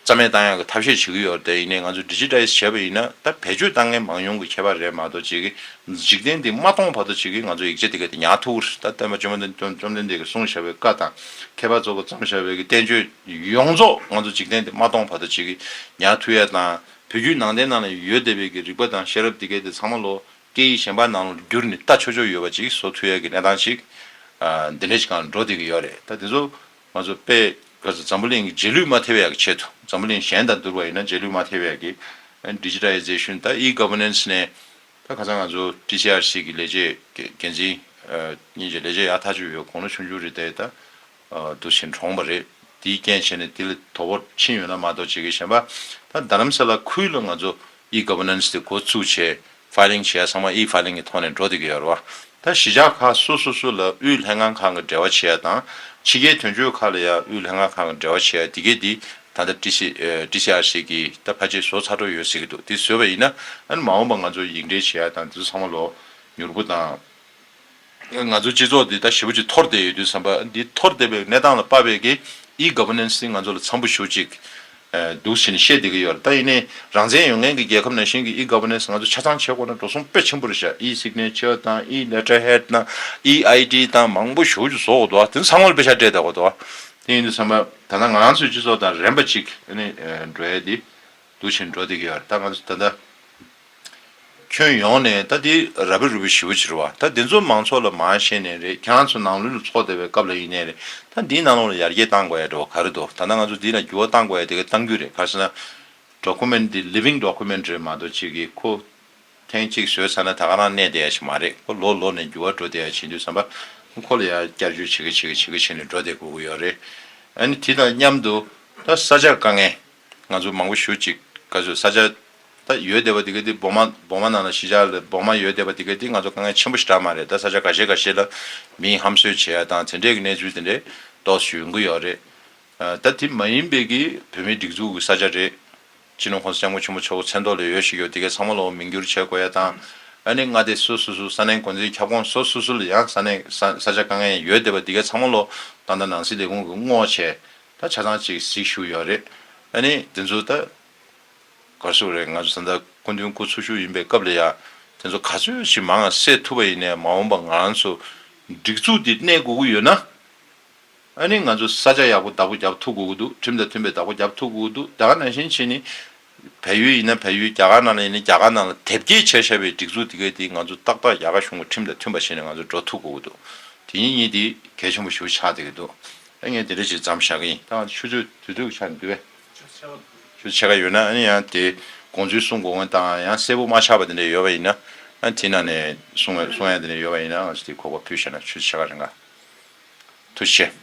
རྩ་མེད་བཏང་ཡག་གི་ཐབས་ཤེས་བྱེད་ཀྱི་ཡོད་དེ་ཡིན་ནའི་ང་ཚོ Digitize བྱས་པ་ཡིན་ན་ད་བེད་སྤྱོད་བཏང་མཁན་མང་ཉུང་གི་ཁྱད་པར་རེད་མ་གཏོགས་བྱེད་ཀྱི་འཇིག་རྟེན་འདི་མ་སྟོང་བར་དུ་བྱེད་ཀྱི་ང་ཚོ་ཡིག་ཆ་འདི་ག་དེ་ཉག་ཐུག་རེད་ད་བསྟན་པ་བཅོམ་ལྡན་བཅོམ་ལྡན་འདས་ཀྱི་གསུངས་བཞག་པའི་བཀའ་དང་མཁས་པ་ཚོ་གི་བརྩམས་བཞག་པའི་གི་བསྟན་བཅོས་ཡོངས་རྫོགས་ང་ཚོ་འཇིག་རྟེན་འདི་མ་སྟོང་བར་དུ་བྱེད་ཀྱི་ཉག་ཐུག་ཡ་དང་བོད་བརྒྱུད་ནང་བསྟན་ནང་ལ་ཡོད་བསྡད་པའི་གི་རིག་པ་དང་ཤེས་རབ་འདི་ག་དེ་ཚང་མ་ལོ་སྐད་ཡིག་གཞན་པ་ནང་ལ་བསྒྱུར་ནས་ལྟ་ཆོག་ཆོག་ཡོད་པ་ཅིག་བཟོ་ཐུ་ཡས་ཀྱི་གནས་སྟངས་ཤིག་འདི་འདྲའི་ཞིག་གང་ལ་འགྲོ་བསྡད་ཀྱི་ཡོད་རེད་ད་དེ་ཚོ་ང་ཚོ་དཔེ་ག་ཚོད་འཛམ་བུ་གླིང་གི་རྗེས་ལུས་མ་ཐེ་བའི་ཡག་གི་ཆེད་དུ་འཛམ་བུ་གླིང་གཞན་དང་བསྡུར་བ་ཡིན་ན་རྗེས་ལུས་མ་ཐེ་བའི་ཡག་གི Digitization ད E Governance ནས་ད་ག་ཚང་ང་ཚོ TCRC གི་ལས་བྱེད་འགན་འཛིན་གཉིས་ཀྱི་ལས་བྱེད་ཡག་ཐག་ཆོད་ཡོད་གོང་ལ་ཆུང་ཆུང་རེ་བསྡད་ད་དུ་ཞིང་གྲོངས་པ་རེད། དེའི་རྐྱེན་བྱས་ནས་དེ་ལས་དོ་བོར་ཕྱིན་ཡོད་ན་མ་གཏོགས་བྱེད་ཀྱི་ཞེན་པ། ད་རྡ་རམ་ས་ལ་ཁུལ་ལ་ང་ཚོ E Governance དེ་འགོ་བཙུགས་ཆེད Filing བྱེད་ཡ་ཚང་མ E Filing གི་ཐོག་ནས་འགྲོ་བསྡད་ཀྱི་ཡོད་རེད་བ། ད་གཞིས་ཆགས་ཁག་སོ་སོ་སོ་ལ་དབུས་ལྷན་ཁང་ཁག་གི་འབྲེལ་བ་བྱེད་ཡ་དང་ཕྱི་རྒྱལ་དོན་གཅོད་ཁག་ལ་ཡ་དབུས་ལྷན་ཁང་ཁག་གི་འབྲེལ་བ་བྱེད་ཡ་དེ་གས་དེ་ད་ལྟ TCRC གི་ད་ཕ་ཆེ་བཟོ་ཚར་འགྲོ་ཡོད་ཟེར་གྱི་འདུག་དེ་བཟོས་པ་ཡིན་ན་ཨ་ནི་མ་འོངས་པ་ང་ཚོ་ཡིག་འབྲེལ་བྱེད་ཡ་དང་དེ་ཚོ་ཚང་མ་ལོ་མྱུར་པོ་དང། ང་ཚོའི་སྤྱི་ཚོགས་འདི་ད་ཞི་བོ་ཅིག་འཐོར་བསྡད་ཡོད་དུས་བསམ་པ་འདི་འཐོར་བསྡད་པའི་གནས་སྟངས་ལ་དཔའ་བས་ཀྱི E Governance ནི་ང་ཚོ་ལ་འཚམ་པོ་ཞུ་ཅིག་འདུག་ཞེས་ནི་བཤད་བསྡད་ཀྱི་ཡོད་རེད་ད་ཡིན་ནའི་རང་བཙན་ཡོད་མཁན་གྱི་རྒྱལ་ཁབ་ནང་བཞིན་གྱི E Governance ང་ཚོ་ཆ་ཚང་བྱེད་དགོས་ན་འགྲོ་སོང་དཔེ་ཆེན་པོ་རེ་བཞག E Signature དང E Letterhead དང E ID དང་མང་པོ་ཞུ་རྒྱུ་བཟོ་དགོས་འདུག་ད་ཚང་མ་ལ་དཔེ་ཆ་སྤྲད་བསྡད་དགོས་འདུག་དེ་ཡིན་དུས་བསམ་པ་ད་ང་ཚོའི་སྤྱི་ཚོགས་དང་རན་པ་ཅིག་ནི་འགྲོ་ཡས་དེ། འདུ་བྱེད་འགྲོ་འདི་གའི་བར་ད་ང་ད་ད། ཁྱོན་ཡོངས་ནས་ད་འདི་ར་བི་རུ་བི་ཞི་བོ་བྱི་རུ་བ་ད་འདི་ཚོ་མང་ཚོགས་ལ་མ་ཤེས་ནས་རེད་ཁྱེད་རང་ཚོ་ནང་ལུས་ལ་ཚོགས་བསྡད་པའི་སྐབས་ལ་ཡིན་ནས་རེད་ད་འདིའི་ནང་ལོགས་ལ་ཡར་རྒྱས་གཏང་དགོས་ཡ་འགྲོ་བ་ག་རེ་འདུག་ད་ད་ང་ཚོ་འདི་ལ་འགྱུར་བ་གཏང་དགོས་ཡ་དེ་ག་གཏང་རྒྱུ་རེད་ག་ཟེར་ན། Document འདི Living Document རེད་མ་གཏོགས་ཅིག་གིས་ཁོ། ཐེངས་གཅིག་བཟོས་ཚར་ན་ད་ག་རང་གནས་བསྡད་ཡ་ཞིག་མ་རེད་ཁོ་ལོ་ལོ་ནས་འགྱུར་བ་འགྲོ་བསྡད་ཡ་བྱེད་འདུག་བསམ་པ། ཁོ་ལ་ཡ་བསྐྱར་བཅོས་བྱེད་གི་བྱེད་གི་བྱེད་གི་བྱེད་ནས་འགྲོ་བསྡད་དགོས་ཀྱི་ཡོད་རེད། ཨ་ནི་དེ་དང་མཉམ་དུ་ད་ས་ཆ་དཀའ་ངལ། ང་ཚོ་མང་པོ་ཞུ་ཅིག་ག་ཚོད་ས་ཆ་ད་ཡོད་བསྡད་པ་དེ་ག་དེ་སྦོག་མ་སྦོག་མ་ནང་ལ་གཞིས་ཆགས་ལ་སྦོག་མ་ཡོད་བསྡད་པ་དེ་ག་དེ་ང་ཚོ་དཀའ་ངལ་ཆེན་པོ་ཞིག་གྲགས་མ་རེད་ད་ས་ཆ་ག་ཤེད་ག་ཤེད་ལ་མིའི་ཧམ་ཟོས་བྱས་ཡ་དང་དེ་འདྲས་ཀྱི་གནས་ཚུལ་དེ་འདྲས་ཏོག་ཞུ་ཡོང་གི་ཡོད་རེད་ད་དེ་མ་ཡིན་པའི་གི་བོད་མིའི་སྒྲིག་འཛུགས་ཀྱི་ས་ཆ་རེད་སྤྱི་ནོར་ཁོང་ས་སྐྱབས་མགོན་ཆེན་པོ་མཆོག་གི་མཚན་ཐོག་ལས་ཡོད་ཞིག་ཡོད་དེ་ག་ཚང་མ་ལ་འོ་མིང་བསྒྱུར་བྱས་དགོས་ཡ་དང་ཨ་ནི་ང་དེ་སུ་སུ་སུ་ས་གནས་འགོ་འཛིན་ཁྱབ་ཁོངས་སོ་སུ་སུ་ལ་ཡང་ས་གནས་ས་ཆ་དཀའ་ངལ་ཡོད་བསྡད་པ་དེ་ག་ཚང་མ་ལོ་ད་ད་ནང་སྲིད་ལས་ཁུངས་ཀྱི་བསྔོགས་བྱས་ད་ཆ་ཐང་ཅིག་གཟིགས་ཞུ་ཡོད་རེད་ཨ་ནི་དེ་ཚོ་ད་གར་སོང་རེད་ང་ཚོ་ད་ལྟ་སྐུ་མདུན་སྐུ་འཚོ་བཞུགས་ཡིན་པའི་སྐབས་ལ་ཡང་དེ་ཚོ་ག་ཚོད་ཞིག་མང་ང་སེལ་ཐུབ་པ་ཡིན་ནས་མ་འོངས་པ་ང་རང་ཚོ་སྒྲིག་འཛུགས་འདི་གནས་དགོས་ཀྱི་ཡོད་ན་ཨ་ནི་ང་ཚོ་ས་ཆ་ཡག་པོ་བདག་པོ་རྒྱབ་ཐུབ་དགོས་ཀྱི་འདུག་ཁྲིམས་དང་མཐུན་པའི་བདག་པོ་རྒྱབ་ཐུབ་དགོས་ཀྱི་འདུག་དེ་ག་ནང་བཞིན་བྱས་ནི་བལ་ཡུལ་ཡིན་ན་བལ་ཡུལ་རྒྱ་གར་ནང་ལ་ཡིན་ན་རྒྱ་གར་ནང་ལ་དེབ་སྐྱེལ་བྱས་བྱས་པའི་སྒྲིག་འཛུགས་དེ་གའི་དེ་ང་ཚོ་ཏག་ཏག་རྒྱ་གར་གཞུང་གི་ཁྲིམས་དང་མཐུན་པ་བྱས་ནས་ང་ཚོ་འགྲོ་ཐུབ་དགོས་ཀྱི་འདུག་དེ་གཉིས་གཉིས་དེ་གལ་ཆེན་པོ་ཞུ་ཆགས་དེ་གི་འདུག་ཨ་ངས་དེ་འདྲ་ཞིག་བརྩམས་བཞག་གི་ཡིན་ད་ང་ཚོ་ཆུ་ཚོད་དུས་ཚོད་ཀྱི་ཆ་ནས་དུས་བས། ཆུ་ཚོད་ཕྱེད་ཀ་འདུག། ཆུ་ཚོད་ཕྱེད་ཀ་ཡོད་ན་ཨ་ཡང་དེ་དགོངས་ཚུལ་གསུང་དགོས་ངེས་དང་ཡང་གསལ་པོ་མ་ཆགས་པ་དེ་འདྲ་ཡོད་པ་ཡིན་ན་ཨ་དེ་ནང་ནས་གསུང་ཡང་གསུང་ཡང་དེ་འདྲ་ཡོད་པ་ཡིན་ན་ང་ཚོ་དེ་གོ་བ་ཕུད་བྱས་ན་ཆུ་ཚོད་ཕྱེད་ཀ་རིང་ག་ཐུག་ཤེས།